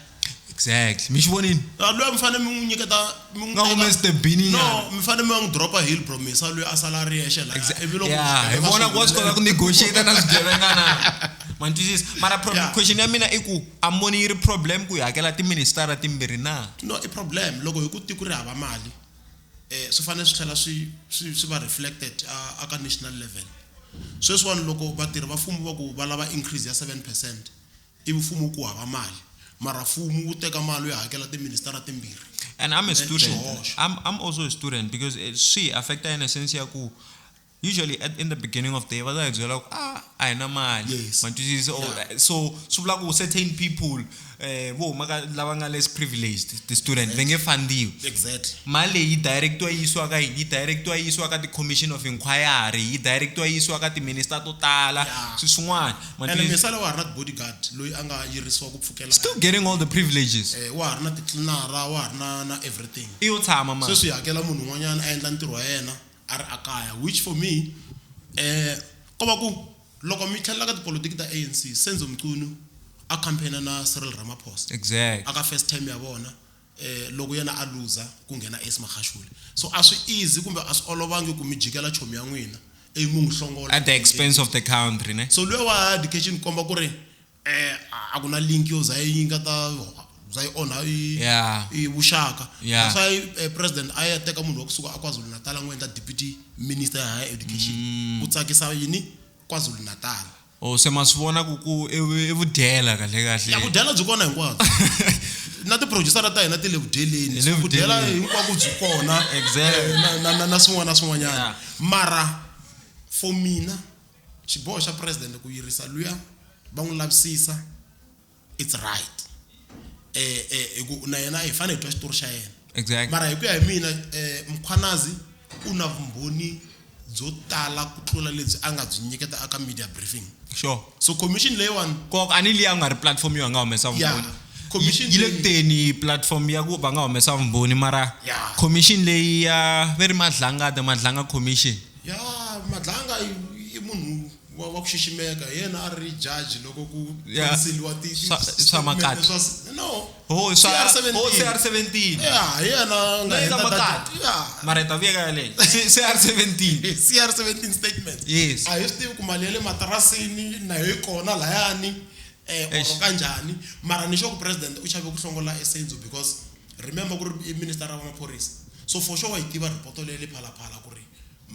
[SPEAKER 1] exactly mi xi
[SPEAKER 2] vonini Ah, loyi mi fanele mi n'wi
[SPEAKER 1] nyiketa mi n'wi Nga teka- humesete bini
[SPEAKER 2] no nyana. mi fanele mi va n'wi
[SPEAKER 1] dropa hill bro mesa loyi a sala a ri yexe la ivi loko Yeah, hi swigevenga vona swi ku wa swi kota ku
[SPEAKER 2] humelela- negotiate na swigevenga na mantwisisa mara problem Yeah. question ya mina i ku a moni yi ri problem ku hi hakela tiministara timbirhi na no i problem loko
[SPEAKER 1] hi ku tiko ri hava mali swi fanele swi tlhela swi swi swi va reflected a ka national level sweswiwani loko vatirhi va mfumo va ku va lava increase ya seven percent i mfumo ku hava mali mara mfumo wu teka mali u ya hakela tiministara timbirhi and i'm a student
[SPEAKER 2] I'm, I'm also a student because eh, swi affecta in a sense ya ku usually at, in the beginning of the year va ta hi byela ku a ah, a hi na mali yes. matwisisa yeah. so swi vula ku certain people eh vo huma ka lava nga less privileged the student va nge fandiwi exactly mali
[SPEAKER 1] leyi directiwa
[SPEAKER 2] yi yisiwa ka yini yi directiwa yi yisiwa ka ti-commission of inquiry yi directiwa yi yisiwa ka timinister to tala swi swin'wana msala wa ha
[SPEAKER 1] ri na ti-bodyguard loyi a nga yirisiwa ku pfukela still getting all the
[SPEAKER 2] privileges eh, wa ha ri na titlinara
[SPEAKER 1] wa ha ri na na everything i yo tshama ma sweswi
[SPEAKER 2] hi hakela munhu un'wanyana
[SPEAKER 1] a endla ntirho wa yena a ri ekaya which for me ko va ku loko mi tlhelela ka tipolotiki ta ANC Senzo Mchunu a campaign na Cyril Ramaphosa exactly aka first
[SPEAKER 2] term ya vona
[SPEAKER 1] loko yena a looser ku nghena Ace Magashule so a swi easy kumbe a swi olovangi ku mi jikela chomi ya n'wina ivi mi n'wi hlongola at the expense of the
[SPEAKER 2] country ne so luya wa education
[SPEAKER 1] komba ku ri eh a ku na link yo za yi nga ta za yi onha yi Yeah. yi vuxaka Yeah. that's why eh, president a ya teka munhu wa kusuka a KwaZulu Natal a n'wi endla deputy minister ya higher education Mm. ku tsakisa yini KwaZulu Natal o se ma swi vona
[SPEAKER 2] ku ku i vu- i vudyela kahle ya kahle vudyela byi kona
[SPEAKER 1] hinkwabyo na tiproducera ta hina ti le vudyeleni Hi le So vudyela vudyeleni. hinkwako byi kona Exactly. eh, na- na- na- na swin'wana na swin'wanyana Yeah. mara for mina Xiboho xa president ku yirisa luya va n'wi lavisisa it's right eh eh hi ku na yena hi fane hi twa xitori xa yena Exactly. mara hi ku ya hi
[SPEAKER 2] mina
[SPEAKER 1] eh Mkhwanazi u na vumbhoni byo tala ku tlula lebyi a nga byi nyiketa aka media briefing Sure. so
[SPEAKER 2] commission leyiwani
[SPEAKER 1] Kok ani liya nga ri
[SPEAKER 2] platform yo nga humesa Yeah. vumbhoni. Commission Yi le leyi- kuteni platform ya ku va nga humesa vumbhoni mara Yeah. commission leyi ya ve ri madlangada madlanga commission. Ya Madlanga
[SPEAKER 1] i, i munhu wa, wa ku xiximeka hi yena a ri judge loko ku Yeah. tirhiseliwa ti- ti- Swa- swa statement
[SPEAKER 2] Makati. swa s- no ho
[SPEAKER 1] i swa CR17. ho cr
[SPEAKER 2] 17 ya hi
[SPEAKER 1] yena a nga Leyi ka heta Makati. data- ya
[SPEAKER 2] mara hi ta vuya ka yaleyo C- cr 17 cr 17
[SPEAKER 1] statement Yes. a hi swi tivi ku
[SPEAKER 2] mali ya le
[SPEAKER 1] matirasini na yo yi kona layani um Eish. or kanjhani mara ni xo ku president u chave ku hlongola esenzo because Remember ku ri i minister wa maphorisa so for sure wa yi tiva report leyi ya le Phala Phala ku ri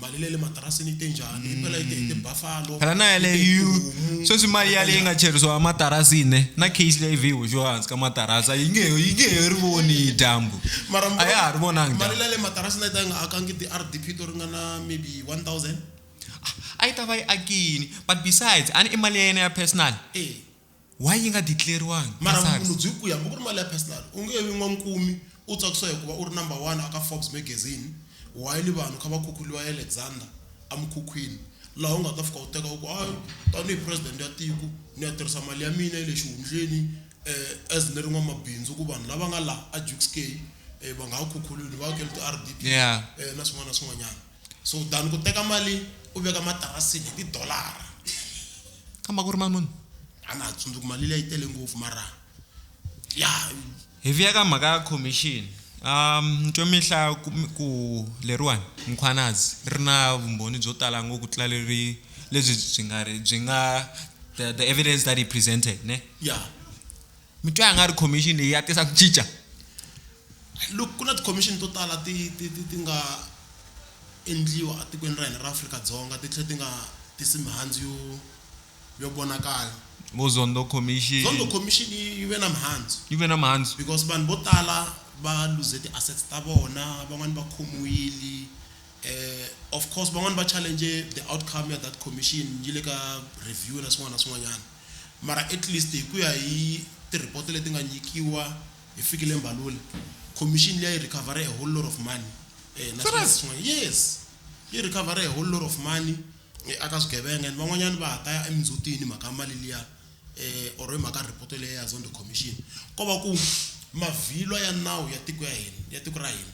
[SPEAKER 1] mali leyi ya le matirasini yi te njhani, yi pela yi te hi tibuffalo, Phela na yi te hi yaleyo
[SPEAKER 2] tihomu, sweswi mali yi te yaleyi yi nga njhani. cheriwa matarasini na case leyi vhe yi hoxiwa hansi ka matarasi yi nge yi nge he ri voni dyambu Mara mi a ya ha ri
[SPEAKER 1] vonangi mali dyambu
[SPEAKER 2] leyi ya le matirasini a yi
[SPEAKER 1] ta yi nga akangi ti-R_D_P to ringana maybe one thousand?
[SPEAKER 2] a yi ta va yi akini but besides a ni i mali ya yena ya personal. E. why yi nga declare-riwangi ka mara SARS? vumunhu byi ku
[SPEAKER 1] hambi ku ri mali ya personal u nge vi n'wankumi u tsakisiwa hikuva u ri number one aka Forbes magazine while vanhu kha va khukhuriwa Alexander emukhukhwini laha u nga ta fika u teka u ku hayi tanihi president ya tiko ni ya tirhisa mali ya mina ya le xihundleni as ni ri n'wamabindzu ku vanhu lava nga laha a Jukes Cay va nga ha khukhuriwi ni va akele ti-R_D_P Yeah. na swin'wana na swin'wanyana. Sowudani ku teka mali u veka matarasini hi tidolara.
[SPEAKER 2] Kambe a ku ri mali muni? A na ha tsundzuki
[SPEAKER 1] mali liya yi tele ngopfu mara ya. Hi
[SPEAKER 2] vuya ka mhaka ya khomixini. Ni twe mi hlaya ku leriwani, Mkhwanazi, ri na vumbhoni byo tala ngopfu ku tlula lebyi byi nga ri byi nga the evidence that he presented ne? Ya. mi twa nga ri commission leyi ya tisa ku cinca
[SPEAKER 1] look ku na ti-commission to tala ti ti ti ti nga endliwa etikweni ra hina ra Afrika-Dzonga ti tlhe ti nga tisi mihandzu yo yo vonakala vo zondo
[SPEAKER 2] commission zondo commission yi ve na
[SPEAKER 1] mihandzu yi ve na mihandzu because vanhu vo tala va lose ti-assets ta vona van'wani va khomiwile eh of course van'wani va challenge the outcome ya that commission yi le ka review na swin'wana na swin'wanyana Mara at least hi ku ya hi ti-report leti nga nyikiwa hi Fikile Mbalula, khomixini liya yi recover-e a whole lot of money na swin'wana na swin'wana. Yes, yi recover-e a whole lot of money aka swigevenga and van'wanyana va ha ta ya emindzhutini hi mhaka ya mali liya or hi mhaka report leyi ya Zondo Commission. Ko va ku mavhilwa ya nawu ya tiko ya hina, ya tiko ra hina.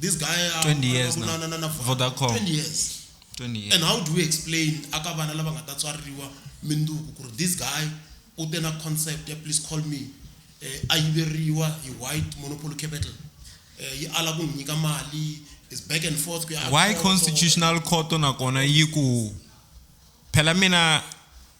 [SPEAKER 1] this guy uh, 20 years na, na, na,
[SPEAKER 2] na Vodacom 20 years 20
[SPEAKER 1] years and how do we explain aka vana lava nga ta tswariwa minduku ku ri this guy u te na concept ya please call me eh, a yiveriwa hi white monopoly capital eh, yi ala ku n'wi nyika mali is back and forth why constitutional
[SPEAKER 2] court nakona yi ku phela mina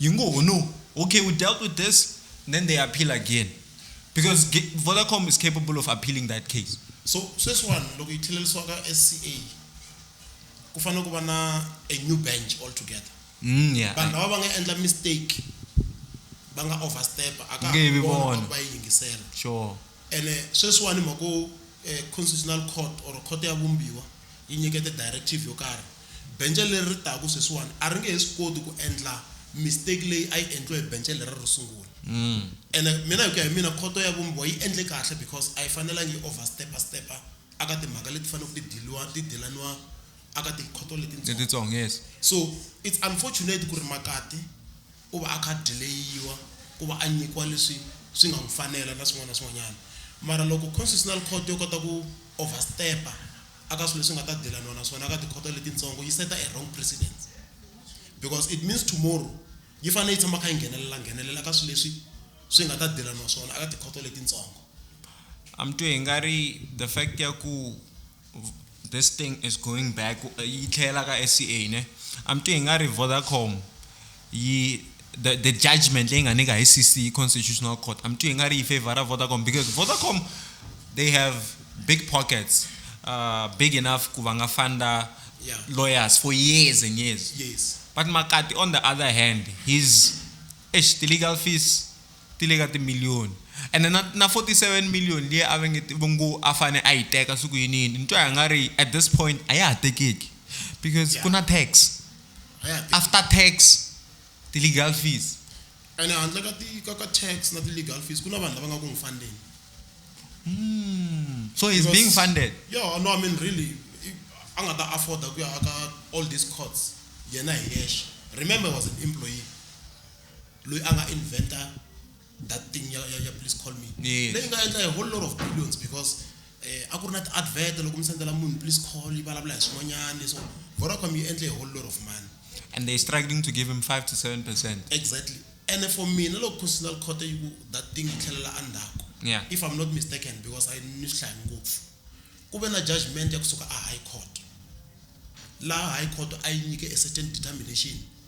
[SPEAKER 2] You ngo ho no, okay we dealt with this then they appeal again because Vodacom is capable of appealing that case. So sweswiwani
[SPEAKER 1] loko yi tlhelerisiwa ka SCA ku fanele ku va na a new bench altogether. Mm, yeah. Vanhu lava va nga endla mistake va nga overstep a ka Nge vi vona. va yi yingisela. Sure.
[SPEAKER 2] Ene
[SPEAKER 1] sweswiwani mhako eh, constitutional court or court ya vumbiwa yi nyikete directive yo karhi Bence leri ri taka sweswiwani a ri nge he swi koti ku endla mistake leyi a yi endliwe hi bence lera ro sungula. Ene mina hi ku ya hi mina khoto ya vumbiwa yi endle kahle because a yi fanelangi yi over step step a ka timhaka leti faneleke ti diliwa ti dilaniwa a ka tikhoto letitsongo. Letitsongo yes.
[SPEAKER 2] So it's
[SPEAKER 1] unfortunate ku ri makati u va a kha a dileyiwa ku va a nyikiwa leswi swi nga n'wi fanela na swin'wana na swin'wanyana. Mara loko Constitutional Court yo kota ku overstep-a aka swilo leswi nga ta dilaniwa na swona aka tikhoto letitsongo yi seta a wrong precedent because it means tomorrow yi fanele yi tshama kha yi nghenelela nghenelela ka swilo leswi swi nga ta dilaniwa swona aka tikhoto letitsongo. A mi
[SPEAKER 2] twe hi nga ri the fact ya ku this thing is going back yi tlhela ka SCA ne I'm thinking nga ri Vodacom yi the the judgment leyi nga nyika hi CC constitutional court I'm thinking nga ri yi favor Vodacom because Vodacom they have big pockets uh, big enough ku va nga funda yeah. lawyers for years and years yes but Makati
[SPEAKER 1] on
[SPEAKER 2] the other hand his eish the legal fees ti le ka timiliyoni, ene na, na 47 million liya a va nge, va ngo a fane a yi teka siku yini yini, ni twa nga ri at this point a ya ha tekeki because yeah. ku na tax after tax ti legal fees ene handle ka
[SPEAKER 1] ti ka ka tax na ti legal fees ku na vanhu lava nga ku n'wi fundeni mm.
[SPEAKER 2] so he's because, being funded yeah no i mean really
[SPEAKER 1] a nga ta afforda ku ya aka all these courts yena hi yexe remember was an employee loyi a nga inventa that thing ya, ya, ya please call me yes. leyi nga endla a whole lot of billions because eh, a ku ri na ti-advert loko mi sendela munhu please call yi vulavula hi swin'wanyana leswo vodacom yi endle a whole lot of money and they're struggling
[SPEAKER 2] to give him 5 to 7 percent exactly and
[SPEAKER 1] for mina loko constitutional court yi ku that thing yi tlhelela endzhaku yeah. if i'm not
[SPEAKER 2] mistaken
[SPEAKER 1] because i ni swi hlayi ngopfu ku ve na judgment ya kusuka a high court laha high court a yi nyike a certain determination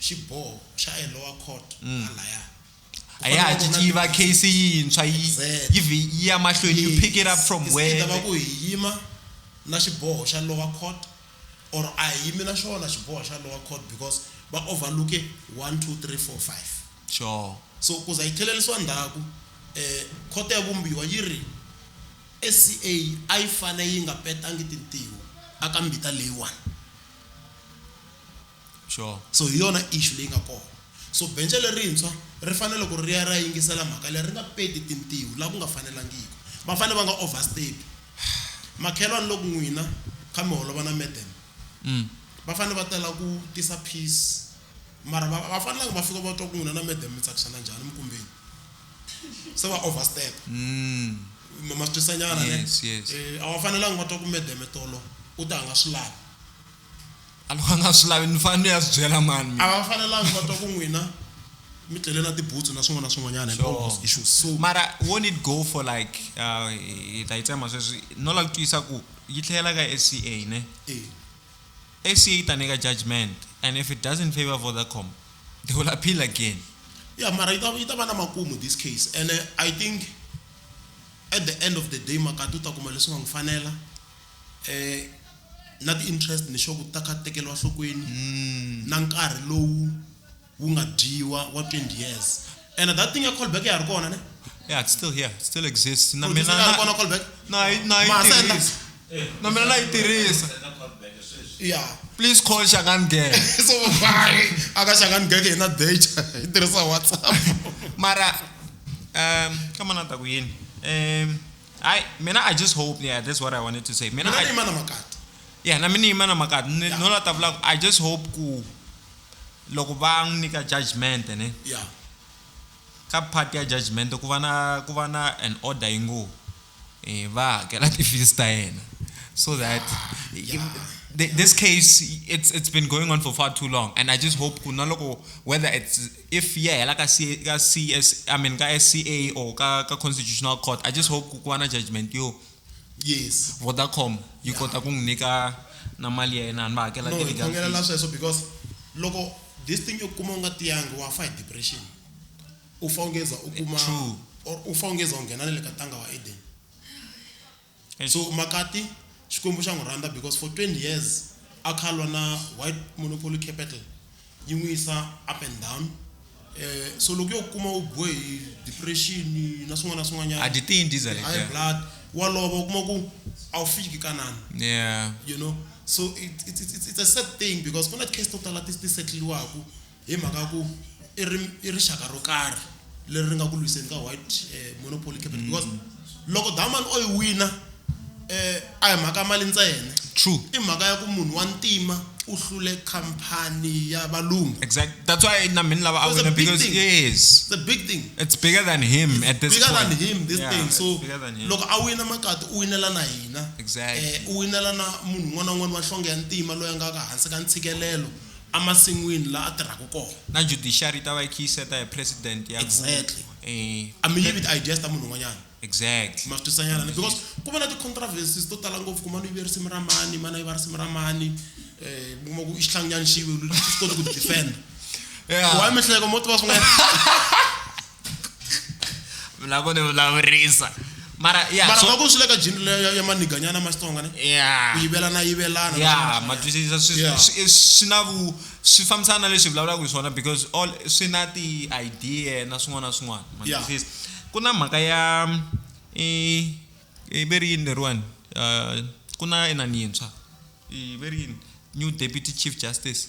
[SPEAKER 1] xiboho xa e lower court mm. halaya a ya ha
[SPEAKER 2] ciciva case yintshwa yi ya mahlweni you pick it up from where va ku hi yima
[SPEAKER 1] na xiboho xa lower court or a hi yimi na xona xiboho xa lower court because va overlooke 1 2 3 4 5 sure
[SPEAKER 2] so ku za yi
[SPEAKER 1] tlhelerisiwa ndzhaku um eh, khoto ya vumbiwa yi ri sca a yi fane yi nga petangi tintiho aka mbita leyiwani
[SPEAKER 2] sure so hi yona issue
[SPEAKER 1] leyi nga kona so benche lerintshwa ri fanele ku ri ya ra yingisela mhaka leyi ri nga peti tintiho laha ku nga fanelangiki va fanele va nga overstep makhelwani loku n'wina kha mi holova na madam mm. va fanele va tela ku tisa peace mara va fanelanga va fika va twa ku n'wina na madam mi tsakisana njhani mikumbeni se va overstep mm. ma swi twisanyana ne eh, a va
[SPEAKER 2] fanelanga va
[SPEAKER 1] twa ku madam tolo u ta nga swi lavi a
[SPEAKER 2] loko a nga swi lavi ni fanele ni ya swi byela mani a va fanelanga va
[SPEAKER 1] twa
[SPEAKER 2] ku
[SPEAKER 1] n'wina mi tlele na tibutsu na swin'wana na swin'wanyana and issues so
[SPEAKER 2] mara
[SPEAKER 1] won't it go
[SPEAKER 2] for like uh, hi ta yi tsema sweswi no lava ku twisisa ku yi tlhelela ka sca ne eh. sca yi ta nyika judgment and if it doesn't favor vodacom they will appeal again ya mara yi ta
[SPEAKER 1] yi ta va na makumu this case and uh, i think at the end of the day makati u ta kuma leswi nga n'wi fanela na ti-interest ni sure ku ta kha ti tekeriwa enhlokweni na nkarhi lowu wu nga dyiwa wa 20 years and that thing ya callback ya ha ri kona ne Yeah, it's still here.
[SPEAKER 2] It still exists. Na Producer mina ya ha ri kona na callback
[SPEAKER 1] na yi- na yi Ma, senda.
[SPEAKER 2] tirhisa. Na mina na yi tirhisa.
[SPEAKER 1] yeah Please call
[SPEAKER 2] Shangani Gang. so vai
[SPEAKER 1] akaxangani geke hi na data hi tirhisa whatsapp Mara
[SPEAKER 2] um kama na ta ku yini? Um I mina I just hope yeah that's what I wanted to say mina mina ni I, yima na makati
[SPEAKER 1] yeah na mina yima
[SPEAKER 2] na makati ni Yeah. no la ta vula ku I just hope ku loko va n'wi nyika judgment ne ya
[SPEAKER 1] ka
[SPEAKER 2] part ya judgment ku va na ku va na an order yi ngo eh va hakela ti-fees ta yena so that th- this case it's it's been going on for far too long and i just hope ku na loko whether it's if yi ya hela ka C ka CS I mean ka SCA or ka ka Constitutional Court I just hope ku ku va na judgment yo yes
[SPEAKER 1] Vodacom
[SPEAKER 2] yi kota ku n'wi nyika na mali ya yena ni va hakela no hi ti-legal khongelela fees. sweswo because
[SPEAKER 1] loko this thing yo kuma u nga tiyangi wa fa hi depression u fa ungeza u kuma True. or u fa ungeza u nghena na le ka tanga wa eden And so Makati Xikwembu xa n'wi rhandza because for 20 years a kha lwa na white monopoly capital yi n'wi yisa up and down eh so loko yo kuma u biwe hi depression na swin'wana na swin'wanyana a dyi tiyi ndiza leti high
[SPEAKER 2] blood wa
[SPEAKER 1] lova u kuma ku a wu fiki kanani yeah you know
[SPEAKER 2] so
[SPEAKER 1] it's, it's, it's, it's a sad thing because kuna case to tala ti ti setliwaku Hi mhaka ya ku i ri i rixaka ro karhi leri ri nga ku lwiseni ka white eh, monopoly capital mm. because loko diamond o yi wina eh a hi mhaka mali ntsena true i mhaka ya
[SPEAKER 2] ku munhu wa
[SPEAKER 1] ntima u hlule company ya valungu exact that's why na
[SPEAKER 2] mina lava a wina because thing. yes the big thing it's
[SPEAKER 1] bigger than
[SPEAKER 2] him it's
[SPEAKER 1] at this bigger point. than him
[SPEAKER 2] this yeah, thing
[SPEAKER 1] so loko a wina makati u winela na hina exactly eh u winela
[SPEAKER 2] na
[SPEAKER 1] munhu un'wana na un'wana wa nhlonge ya ntima loyi a nga ka hansi ka ntshikelelo emasin'wini laha a tirhaka kona. Na judiciary yi ta va
[SPEAKER 2] yi kha yi seta hi president ya ku. Exactly.
[SPEAKER 1] A mi yivi ti-ideas ta munhu un'wanyana. Exactly. Ma swi
[SPEAKER 2] twisanyana ni because
[SPEAKER 1] ku va na ti-controversies to tala ngopfu ku mani u yive risimu ra mani, mani a yiva risimu ra mani, mi kuma ku i xihlanginyana xi yiviwile xi swi koti ku ti defend-a. Why
[SPEAKER 2] mi hleka mo tiva
[SPEAKER 1] swin'wanyana.
[SPEAKER 2] vulavo ni vulavurisa mara ya mara va ku swi le ka
[SPEAKER 1] jini leyo ya maniganyana ma xitsonga ne ya ku yivelana
[SPEAKER 2] yivelana
[SPEAKER 1] ya ma twisisa swi
[SPEAKER 2] Yeah. swi- swi na vu swi fambisana na leswi hi vulavulaka hi swona because all swi na ti-idea na swin'wana na swin'wana ma Yeah. twisisa ku na mhaka ya i i ve ri yini leriwani Eh, ku na inani yintshwa i ve ri yini new deputy chief justice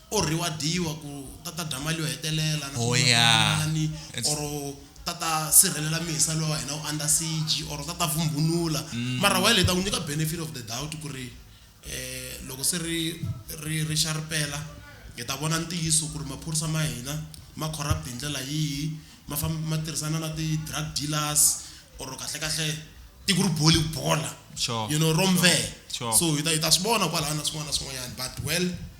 [SPEAKER 1] Or reward-iwa ku ta ta dya mali yo hetelela na van'wanyani or ta ta sirhelela mesa loyi wa hina u under siege or ta ta vumbhunula mara while hi ta n'wi nyika benefit of the doubt ku ri loko se ri ri ri xaripela hi ta vona ntiyiso ku ri maphorisa ma hina ma corrupt hi ndlela yihi ma famba ma tirhisana na ti drug dealers or kahle kahle tiko ri bole bola you know ro mbvee so hi ta hi ta swi vona kwalaya na swin'wana na swin'wanyani but well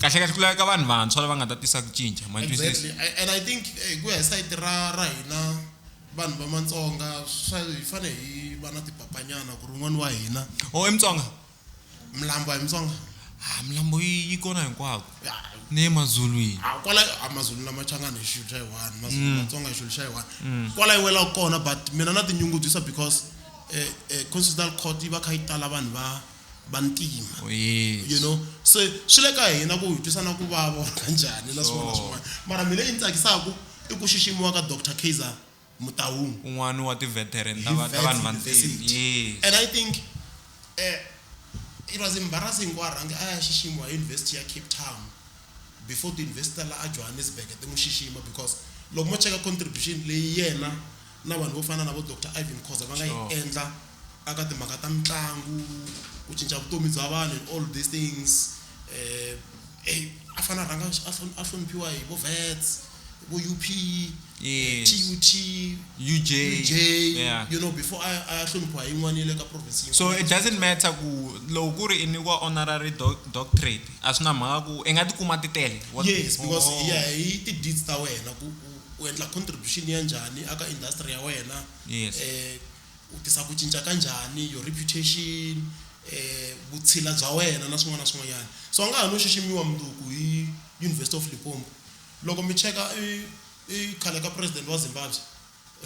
[SPEAKER 2] kahle kahle ku laveka vanhu vantshwa lava nga ta tisa ku cinca ma exactly and i
[SPEAKER 1] think eh, hi ku ya hi sayiti ra ra hina vanhu va matsonga swa hi fane hi va na tipapanyana ku ri un'wana wa hina o oh, i mutsonga
[SPEAKER 2] milambo
[SPEAKER 1] hi mutsonga ha milambo
[SPEAKER 2] yi kona hinkwako ni emazulwini kwala amazulu
[SPEAKER 1] na machangana hi xilo xa yiwani mazulu mm. matsonga hi xilo xa yiwani mm. kwala yi wela kona but mina na tinyungubyisa because um eh, eh, constitutional court yi va kha yi tala vanhu va vantima you know se swi le ka hina ku hi twisa na ku vava or ka njhani na swin'wana na swin'wana mara mina yi ni tsakisaka i ku xiximiwa ka dr kaiser mutahung un'wana wa
[SPEAKER 2] ti-veteran ta va- ta vanhu vantima Yes. and i think
[SPEAKER 1] eh, it was embarrassing ku a rhange a ya xiximiwa hi university ya cape town before ti-university ta la a johannesburg ti n'wi xixima because loko mo cheka contribution leyi yena na vanhu vo fana na vo dr ivan khoza va nga yi Sure. endla A ka timhaka ta mitlangu, ku cinca vutomi bya vanhu and all these things a fanele a rhanga a hloniphiwa hi vo Wits, hi vo U_P, T_U_T,
[SPEAKER 2] U_J
[SPEAKER 1] you know before a ya a ya hloniphiwa hi yin'wana ya le ka province yin'wana. So it doesn't matter
[SPEAKER 2] ku loko ku ri i nyikiwa honorary doctorate a swi na mhaka ku i nga tikuma ti tele. Yes because hi ya
[SPEAKER 1] hi ti-deeds ta wena ku u endla contribution ya njhani a ka industry ya wena. U tisa ku cinca ka njhani, your reputation, vutshila bya wena na swin'wana na swin'wanyana. So a nga ha no xiximiwa mundzuku hi University of Limpopo. Loko mi cheka i i khale ka president wa Zimbabwe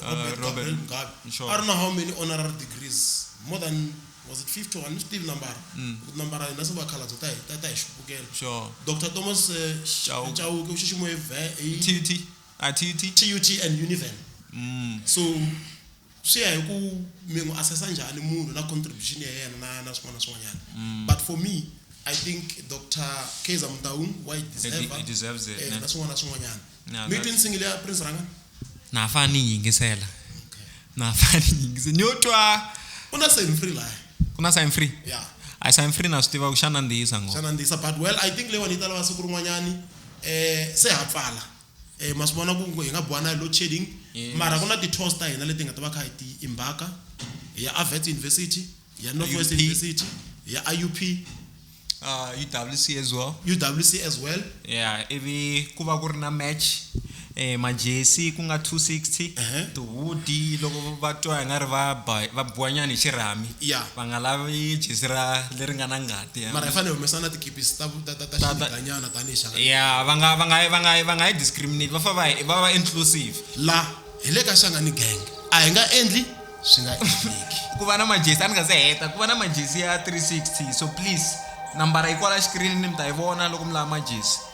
[SPEAKER 1] Robert Gabriel Mugabe a ri na how many honorary degrees more than was it 50 a ni swi tivi nambara ku tinambara hina se vakhalabye ta hi ta hi xupukela. Doctor Thomas Chauke u xiximiwe hi TUT and Univen. So. swi ya hi ku mi n'wi assessa njhani munhu na contribution ya yena na na swin'wana na swin'wanyana mm. but for me i think dr kaizer mutaung wa yi deserve
[SPEAKER 2] eh, na swin'wana na swin'wanyana
[SPEAKER 1] mi twi nsingile ya prince ranga na ha fane ni
[SPEAKER 2] yingisela na ha fane ni yingisela ni yo twa u na sign free
[SPEAKER 1] laha ku na sign free
[SPEAKER 2] ya a sign free na swi tiva ku xa nandziyisa ngo xa nandziyisa but well
[SPEAKER 1] i think leyiwani yi ta lava siku rin'wanyani um eh, se ha pfala eh ma swi vona ku hi nga buwana hi load shedding Yes. mara ku na ti-tours ta hina leti nga ta va kha hi ti imbaka hi ya avets university hi ya northwest IUP. university hi ya iup
[SPEAKER 2] uh, UWC as well uwc as well yeah ivi ku va ku ri na match eh majesi ku nga 260 Ehe. tihudi loko va twa nga ri va ba- va buwanyana hi xirhami Yeah. va nga lavi jesi ra leri nga na ngana Yeah. mara hi fanele hi humesa na
[SPEAKER 1] tikipisi ta ta- ta- ta Ta- ta- xiganyana tanihi xaka ya va nga va nga va nga va nga
[SPEAKER 2] yi discriminate va fa va va va inclusive la hi le
[SPEAKER 1] ka xanga ni gang a hi nga endli swi nga endleki ku va na majesi a ni
[SPEAKER 2] nga se heta ku va na majesi ya 360 so please nambara yi kwala xikirini mi ta yi vona loko mi lava majesi